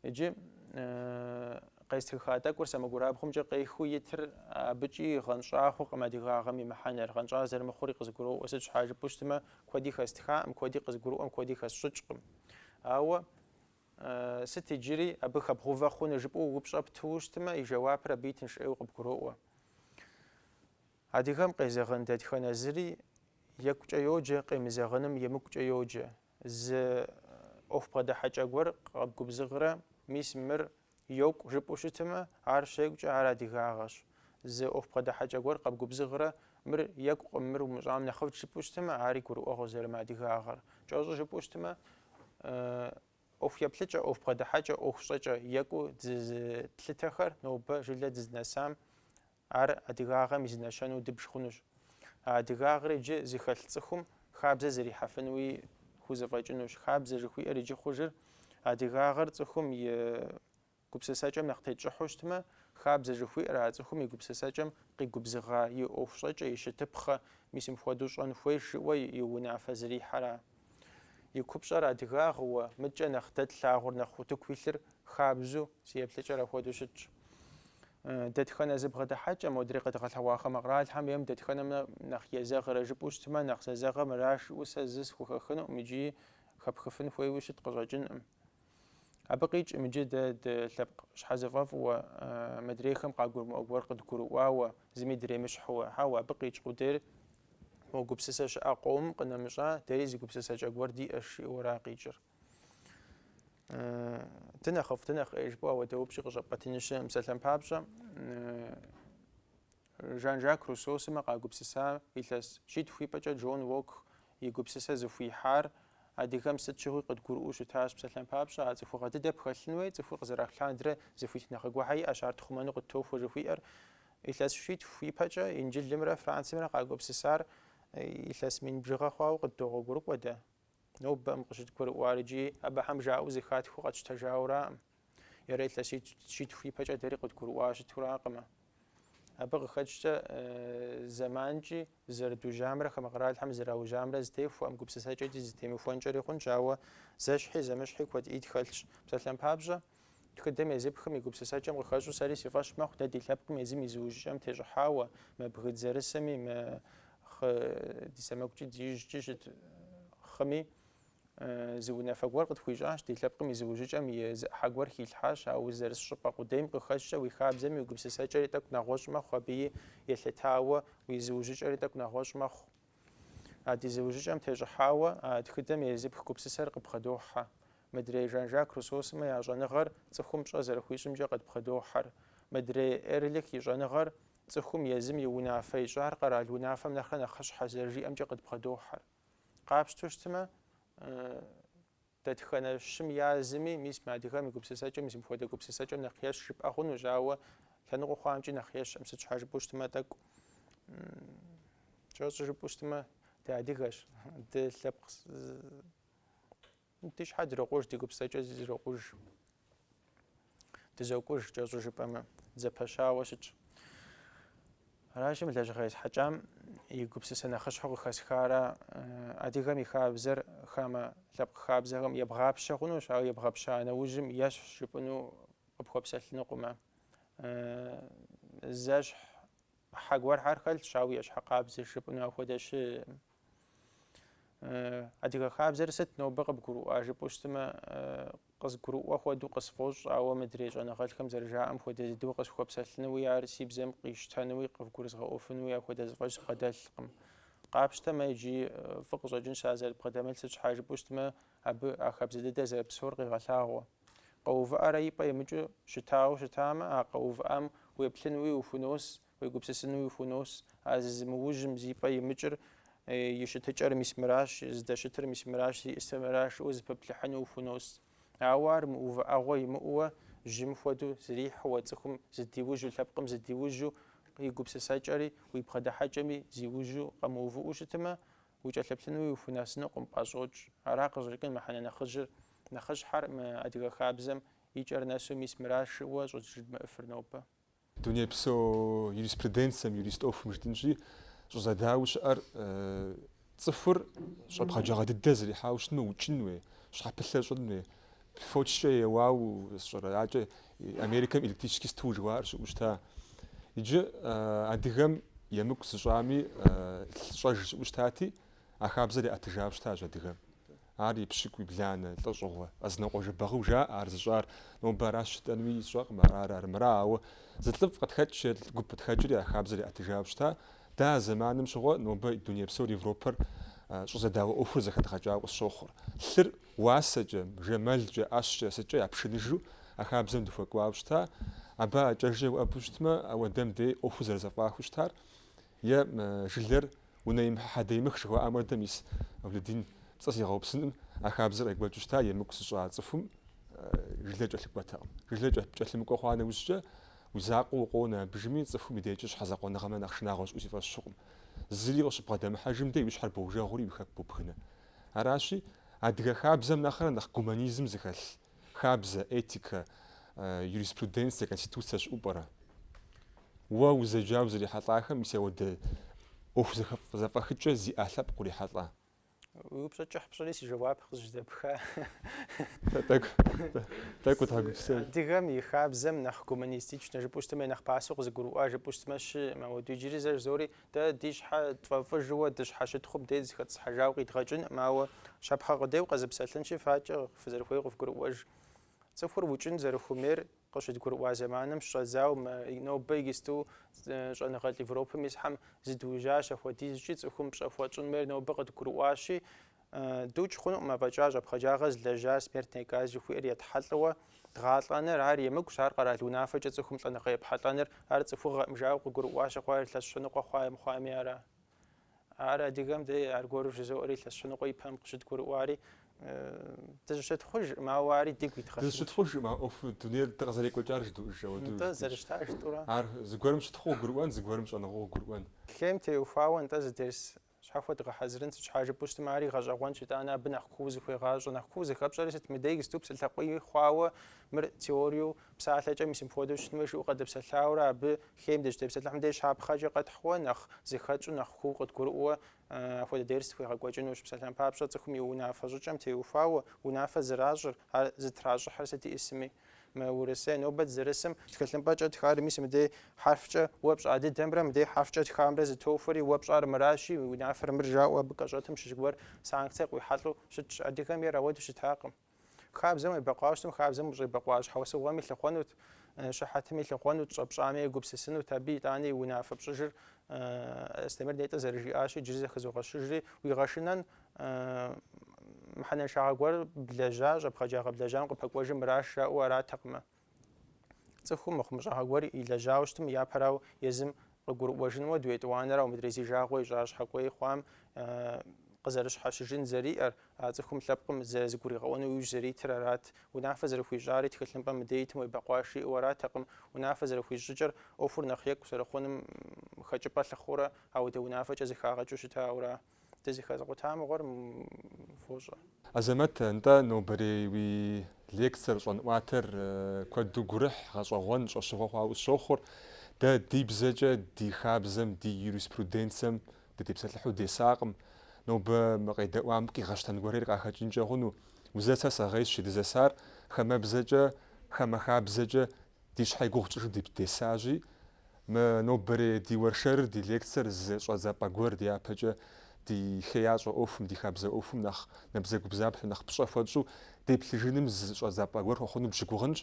Иджы къестхыха тӏэкӏур сэмэгурабгъумкӏэ къехыу итыр абыкӏи гъэнщӏа хъукъым адыгагъэм и мыхьэнэр, гъэнщӏа зэрымыхъури къызгуроӏуэ, сыт щхьа жыпӏэу щытмэ, куэди хэстхаӏым, куэди къызгурыӏуэм, куэди хэсщӏыкӏкъым. Ауэ Сыт иджыри абы хэбгъувэ хъунур жыпӏэу упщӏэ птыуэ щытмэ, и жэуапыр абыи тынш ӏейуэ къыбгуроӏуэ. Адыгэм къезэгъын дэтхэнэ зыри екӏукӏэ йоджэ, къемызэгъыным емыкӏукӏэ йоджэ. Зы ӏуэху бгъэдыхьэкӏэ гуэр къэбгубзыгърэ, мис мыр Йокӏу жыпӏэу щытымэ, ар щекӏукӏэ ар адыгагъэщ. Зы ӏуэху бгъэдыхьэкӏэ гуэр къэбгубзыгърэ, мыр екӏукъым, мыр умыщӏам нэхъыфӏт жыпӏэу щытымэ, ари гурыӏуэгъуэ зэрымыадыгагъэр. Кӏэщӏу жыпӏэу щытымэ, ӏуэху еплъыкӏэ, ӏуэху бгъэдыхьэкӏэ, ӏуэху щӏэкӏэ екӏуу дызы тлъытэхэр нобэ жылэ дызынэсам Ар адыгагъэм и зы нэщэнэу дыбж хъунущ. А адыгагъэр иджы зыхэлъ цӏыхум хабзэ зэрихьэфынуи хузэфӏэкӏынущ. Хабзэ жыхуиӏэр иджы хъужыр адыгагъэр цӏыхум и гупсысэкӏэм нэхъ тетщӏыхьу щытмэ, хабзэ жыхуиӏэр а цӏыхум и гупсысэкӏэм къигубзыгъа, и ӏуэхущӏэкӏэ, и щытыпхъэ, мис мыпхуэдэу щӏэн хуейш жыӏуэ и унафэ зэрихьэра? И купщӏэр адыгагъыуэ, мыдкӏэ нэхъ дэ тлъагъур нэхъ утыку илъыр хабзу, си еплъыкӏэр апхуэдэу щытщ. Дэтхэнэ зы бгъэдыхьэкӏэ модрей къэдгъэлъэгъуа хамэ къэралхэм ейм дэтхэнэм нэхъ езэгърэ жыпӏэу щытмэ, нэхъ зэзэгъэ мыраш жыӏэу сэ зы схухэхынукъым икӏи хэпхыфын хуейуи щыт къыщӏэкӏынкъым. Абы къикӏкъым иджы дэ дылъэпкъ щхьэзыфӏэфӏыуэ, мыдрейхэм къагурымыӏуэ гуэр къыдгурыӏуауэ, зыми дремыщхьууэ, хьэуэ, абы къикӏ къудейр мо гупсысэ щыӏэ къомым къынэмыщӏа, дэри зы гупсысэкӏэ гуэр диӏэш, жиӏэуэра къикӏыр. Дынэхъыфӏ, дынэхъ ӏей жыпӏэу апхуэдэ упщӏи къыщӏэпӏэтыну щыӏэӏым. Псалъэм папщӏэ, Жан-Жак Руссо сымэ къагупсыса илъэс щитху ипэкӏэ Джон Локк и гупсысэ зыхуихьар адыгэм сыт щыгъуи къыдгурыӏуэу щытащ, псалъэм папщӏэ, а цӏыхугъэ дыдэ пхэлъын хуей, цӏыхур къызэралъху лъандэрэ зы хуитыныгъэ гуэрхэр иӏэщ, ар тхъумэну къыттохуэ жыхуиӏэр. Илъэс щитху ипэкӏэ Инджылымрэ Францымрэ къагупсысар илъэс мин бжыгъэ хъуауэ къыддогъуэгурыкӏуэ дэ. Нобэкъым къыщыдгурыӏуар икӏи абыхэм жаӏэу зыхатхыу къэтщтэжауэраӏым. Е ар илъэс щитху ипэкӏэ дэри къыдгурыӏуа щытуракъымэ. Абы къыхэкӏкӏэ зэманкӏи зэрыдужьамрэ хамэ къэралхэм зэраужьамрэ зытехуэӏым, гупсысэкӏэкӏи зытемыхуэнкӏэри хъунщ, ауэ зэщхьи зэмыщхьи куэди тхэлъщ. Псалъэм папщӏэ, тхыдэм езыпхым и гупсысэкӏэм къыхэщӏу сэри си фӏэщ мэхъу дэ ди лъэпкъым езым и зыужьыкӏэм тещӏыхьауэ, мы бгы дызэрысыми, мы хы ди сэмэгукӏи ди ижькӏи щыт хыми, Зы унафэ гуэр къытхуищӏащ, ди лъэпкъым и зыужьыкӏэм и зы ӏыхьэ гуэр хилъхьащ, ауэ узэрыс щӏыпӏэ къудейм къыхэкӏкӏэ уи хабзэми уи гупсысэкӏэри тӏэкӏу нэгъуэщӏ мэхъу, абыи елъытауэ уи зыужьыкӏэри тӏэкӏу нэгъуэщӏ мэхъу. А ди зыужьыкӏэм тещӏыхьауэ а тхыдэм езыпх гупсысэр къыдбгъэдохьэ. Мыдрей Жан-Жак Руссо сымэ я щӏэныгъэр цӏыхум пщӏэ зэрыхуищӏымкӏэ къыдбгъэдохьэр. Мыдрей Эрлих и щӏэныгъэр цӏыхум езым и унафэ ищӏар къэрал унафэм нэхърэ нэхъыщхьэщ зэрыжиӏэмкӏэ къыдбгъэдохьэр. Къапщтэу щытмэ, дэтхэнэ щым я зыми, мис мы адыгэм и гупсысэкӏэм, мис мыпхуэдэ гупсысэкӏэм нэхъ ещхь жыпӏэ хъунущ, ауэ лъэныкъуэ хъуамкӏи нэхъ ещхьӏым. Сыт щхьэ жыпӏэу щытмэ, тӏэкӏу кӏэщӏу жыпӏэу щытмэ, дыадыгэщ, дылъэпкъ Ди щхьэ дрокъуж, ди гупсысэкӏэ зрокъуж. Дызокӏуж, кӏэщӏу жыпӏэмэ, дызэпэщауэ щытщ. Аращи, мы лэжьыгъэ есхьэкӏам и гупсысэ нэхъыщхьэу къыхэсхара адыгэм и хабзэр хамэ лъэпкъ хабзэхэм ебгъапщэ хъунущ, ауэ ебгъэпща нэужьым ещхь жыпӏэну къыпхуэпсэлъынукъымэ. Зэщхь Хьэ гуэрхэр хэлъщ, ауэ ещхь къабзэщ жыпӏэну ахуэдэ щыӏэкъым. Адыгэ хабзэр сыт нобэ къыбгурыӏуа жыпӏэу щытымэ, къызгурыӏуэ хуэдэу къысфӏощӏ, ауэ мыдрей щӏэныгъэлӏхэм зэрыжаӏэм хуэдэ дыдэу къысхуэпсэлъынуи, ар си бзэм къищтэнуи, къывгурызгъэӏуэфынуи ахуэдэ зэфӏэкӏ збгъэдэлъкъым. Къапщтэмэ, иджи фӏы къыщӏэкӏынщ ар зэрыбгъэдэмылъ, сыт щхьа жыпӏэу щытымэ, абы а хабзэ дыдэр зэрыпсэур къегъэлъагъуэ. Къэувыӏэрэ и пӏэ имыкӏыу щытауэ щытамэ, а къэувыӏам уеплъынуи ухунос, уегупсысынуи ухунос. А зызымыужьым зи пӏэ имыкӏыр, и щытыкӏэр мис мыращ, здэщытыр мис мыращ, зиӏысыр мыращ жыӏэу зэпэпплъыхьыну ухунос. Ауэ ар мыувыӏэгъуэ имыӏэуэ, жьым хуэдэу зрихьэуэ цӏыхум зыдиужьу, лъэпкъым зыдиужьу, и гупсысэкӏэри, уи бгъэдыхьэкӏэми зиужьу къэмыувыӏэу щытымэ, укӏэлъыплъынуи ухунэсынукъым, пӏэщӏокӏ. Ара къыщӏэкӏын мыхьэнэ нэхъыжьыр, нэхъыщхьэр мы адыгэ хабзэм и кӏэр нэсу мис мыращ жыӏэу щӏыжыдмыӏэфыр нобэ. Дунейпсо юриспруденцэм, юрист ӏуэхум жытӏынщи, щӏызэдауэ щыӏэр цӏыхур щӏэпхъаджагъэ дыдэ зэрихьауэ щытмэ, укӏын хуей, щхьэпылъэ щӏын хуей, Фочкӏэ еуау сщӏэрэ? Акӏэ Америкэм электрический стул жыхуаӏэр щыӏэу щыта. Иджы адыгэм емыкӏу зыщӏами лъыщӏэж щыӏэу щытати, а хабзэр яӏэтыжауэ щытащ адыгэм. Ар епщыкӏуебланэ лӏэщӏыгъуэ, Къэзэнокъуэ Жэбагъыу жаӏэ ар зыщӏар. Нобэ аращ жытӏэнуи сщӏэкъым, арар, армыра, ауэ зы лӏыфӏ къытхэкӏ, е лӏы гуп къытхэкӏри а хабзэр яӏэтыжауэ щыта. Дэ а зэманым щыгъуэ нобэ дуней псор, Европэр щӏызэдауэ ӏуэхур зэхэдгъэкӏауэ къысщохъур. Лъыр Уасэкӏэ, жэмэлкӏэ, ӏэщкӏэ, сыткӏэ япшыныжу а хабзэм дыхуэкӏуауэ щыта, абы а кӏэжьыр уӏэбэу щытмэ, ауэдэм дей ӏуэхур зэрызэфӏахыу щытар, е жылэр унэимыхьэ хьэдэимых жыхуаӏам хуэдэ, мис Авледин пцӏы сигъэупсыным, а хабзэр къекӏуэкӏыу щыта, емыкӏу зыщӏа цӏыхум жылэр кӏэлъыкӏуэтэкъым. Жылэр кӏэлъымыкӏуэ хъуа нэужькӏэ, уи закъуэ укъонэ абыжми, цӏыхум и дежкӏэ щхьэзакъуэныгъэм нэхъ шынагъуэ щыӏэу си фӏэщ хъукъым. Зыри къыщыббгъэдэмыхьэжым дей уи щхьэр боужэгъури уи хэку бобгынэ. Аращи, адыгэ хабзэм нэхърэ нэхъ гуманизм зыхэлъ хабзэ, этикэ, юриспруденцие, конституцие щыӏупӏэрэ? Уэ узэджауэ узрихьэлӏахэм мис ауэдэ ӏуэху зэфӏэхыкӏэ зиӏэ лъэпкъ урихьэлӏа? Уи упщӏэ кӏыхь пщӏыри си жэуап къызжьэдэпха. Тӏэкӏу утхьэгупсэ. Адыгэм и хабзэм нэхъ гуманистичнэ жыпӏэу щытмэ, е нэхъ пасэу къызыгурыӏуа жыпӏэу щытмэ щыӏым. Ауэ иджыри зэ жызори Дэ ди щхьэ тфӏэфӏыжыуэ дыщхьэщытхъуу мыдей дызыхэтӏысхьэжауэ къидгъэкӏынкъым, ауэ щапхъэ къудейуэ къэзыпсэлъынщи, факӏэ фызэрыхуейуэ къыфгурыӏуэж. Цӏыхур укӏын зэрыхуэмейр къыщыдгурыӏуа зэманым щыщӏэдзауэ мы нобэ иджысту щӏэныгъэлӏ Европэм исхьэм зыдуужьащ, апхуэдизкӏи цӏыхум пщӏэ хуэтщӏын хуейр нобэ къыдгурыӏуащи, Дукӏ хъунукъым афӏэкӏа щӏэпхъаджагъэ злэжьа смертнэ казнь жыхуиӏэр етхьэлӏэуэ дгъалӏэныр, ар емыкӏущ, ар къэрал унафэкӏэ цӏыхум лӏэныгъэ епхьэлӏэныр, ар цӏыхугъэӏым, жаӏэу къыгурыӏуа щыхъуар илъэс щэныкъуэ хъуа е мыхъуами ара? Ар адыгэм дэ аргуэру жызоӏэри, илъэс щэныкъуэ ипэм къыщыдгурыӏуари, дызыщытхъужкъым, ауэ ари дигу идгъэсынщ. Дызыщытхъужкъым, а ӏуэхур дунейр дэ къызэрекӏуэкӏар жыдуӏыж ауэду. Нтӏэ, зэрыщытар жытӏэурэ. Ар зыгуэрым щытхъуу къыгурыӏуэн, зыгуэрым щӏэныгъэу къыгурыӏуэн. Лейм теухуауэ нтӏэ зы дерс Щхьэхуэ дгъэхьэзырын сыт щхьа жыпӏэу щытмэ, ари гъэщӏэгъуэнщ, итӏанэ абы нэхъ куу зыхыуегъащӏэ. Нэхъ куу зэхэпщӏэри сыт? Мыдэ иджысту псалъэ къуий хъуауэ мыр теориеу псалъэкӏэ мис мыпхуэдэу щытын хуейщ жыӏэу къэдыпсэлъауэра, абы хейм дыщытепсэлъыхьым деж щапхъэкӏэ къэтхьу, нэхъ зэхэтщӏу, нэхъ куу къыдгурыӏуэ апхуэдэ дерс тхуегъэкӏуэкӏынущ. Псалъэм папщӏэ цӏыхум и унафэ щӏыкӏэм теухуауэ унафэ зэращӏыр, ар зытращӏыхьыр сыт иӏысми. Мы Урысей нобэ зырысым тхылъымпӏэкӏэ тхар мис мыдей хьэрфкӏэ уэ пщӏа дыдэмрэ мыдей хьэрфкӏэ тхамрэ зытохуэри уэ пщӏар мыращи, унафэр мыр жаӏэу абы кӏэщӏэтым щыщ гуэр санкцэ къуихьэлӏэу щытщ. Адыгэм ейр ауэду щытакъым. Хабзэм уебэкъуа щытым хабзэм ущӏебэкъуа щхьэусыгъуэми лъыхъуэнут, щыхьэтми лъыхъуэнут, щӏэпщӏами егупсысынут. Абы итӏани унафэ пщӏыжыр Астемыр нетӏэ зэрыжиӏащи, иджыри зэ хызогъэщыжри, уигъэшынэн Мыхьэнэншагъэ гуэр блэжьа щӏэпхъаджагъэ блэжьам къыпэкӏуэжым мыращ жаӏэу аратэкъымэ. Цӏыхум мыхъумыщӏагъэ гуэр илэжьауэ щытым, япэрау езым къыгурыӏуэжыну ауэду, етӏуанэрау мыдрей зи жагъуэ ищӏа щхьэкӏуей хъуам къызэрыщхьэщыжын зэриӏэр, а цӏыхум лъэпкъым зэрызыгуригъэӏуэну иужь зэритыр арат. Унафэ зэрыхуищӏари тхылъымпӏэм мыдей итым уебэкъуащ жиӏэу аратэкъым. Унафэ зэрыхуищӏ щӏыкӏэр ӏуэхур нэхъ екӏу зэрыхъунум хэкӏыпӏэ лъыхъуэурэ ауэдэ унафэкӏэ зыхагъэкӏыу щытауэра. Дызыхэзыкъута мыгъуэр фощӏэ. Азэмэт, нтӏэ нобэрей уи лекцэр щӏэнӏуатэр куэду гурыхь, гъэщӏэгъуэн, щӏэщыгъуэ хъуауэ сщохъур. Дэ ди бзэкӏэ, ди хабзэм, ди юриспруденцэм дытепсэлъыхьу десакъым. Нобэ мы къедэӏуам къигъэщтэн гуэрейр къахэкӏынкӏэ хъуну? Узэсэ сэгъейщ жи, дызэсар хамэбзэкӏэ, хамэ хабзэкӏэ Ди щхьэ и гугъу тщӏыжу дипдесащи, мы нобэрей ди уэршэрыр, ди лекцэр зы щӏэдзапӏэ гуэр дяпэкӏэ ди хеящӏэ ӏуэхум, ди хабзэ ӏуэхум нэхъ набдзэгубдзаплъэу, нэхъ пщӏэ хуэтщӏу деплъыжыным зы щӏэдзапӏэ гуэр хуэхъуну дыщыгугъынщ.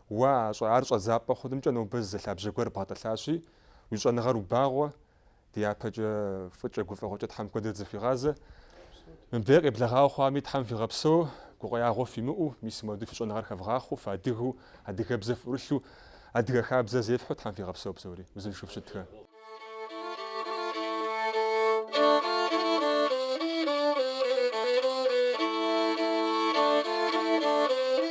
Уа, ар щӏэдзапӏэ хъунымкӏэ нобэ зы лъабжьэ гуэр бгъэтӏылъащи, уи щӏэныгъэр убагъуэ, Дяпэкӏэ фӏыкӏэ гуфӏэгъуэкӏэ Тхьэм куэдрэ дызэхуигъазэ. Мыбдеж къеблэгъауэ хъуами Тхьэм фигъэпсэу, гукъеягъуэ фимыӏэу, мис мыпхуэдэу фи щӏэныгъэр хэвгъахъуэу, фыадыгэу, адыгэбзэ фӏурылъу, адыгэ хабзэр зефхьэу Тхьэм фигъэпсэу псори, узыншэу фыщытхэ.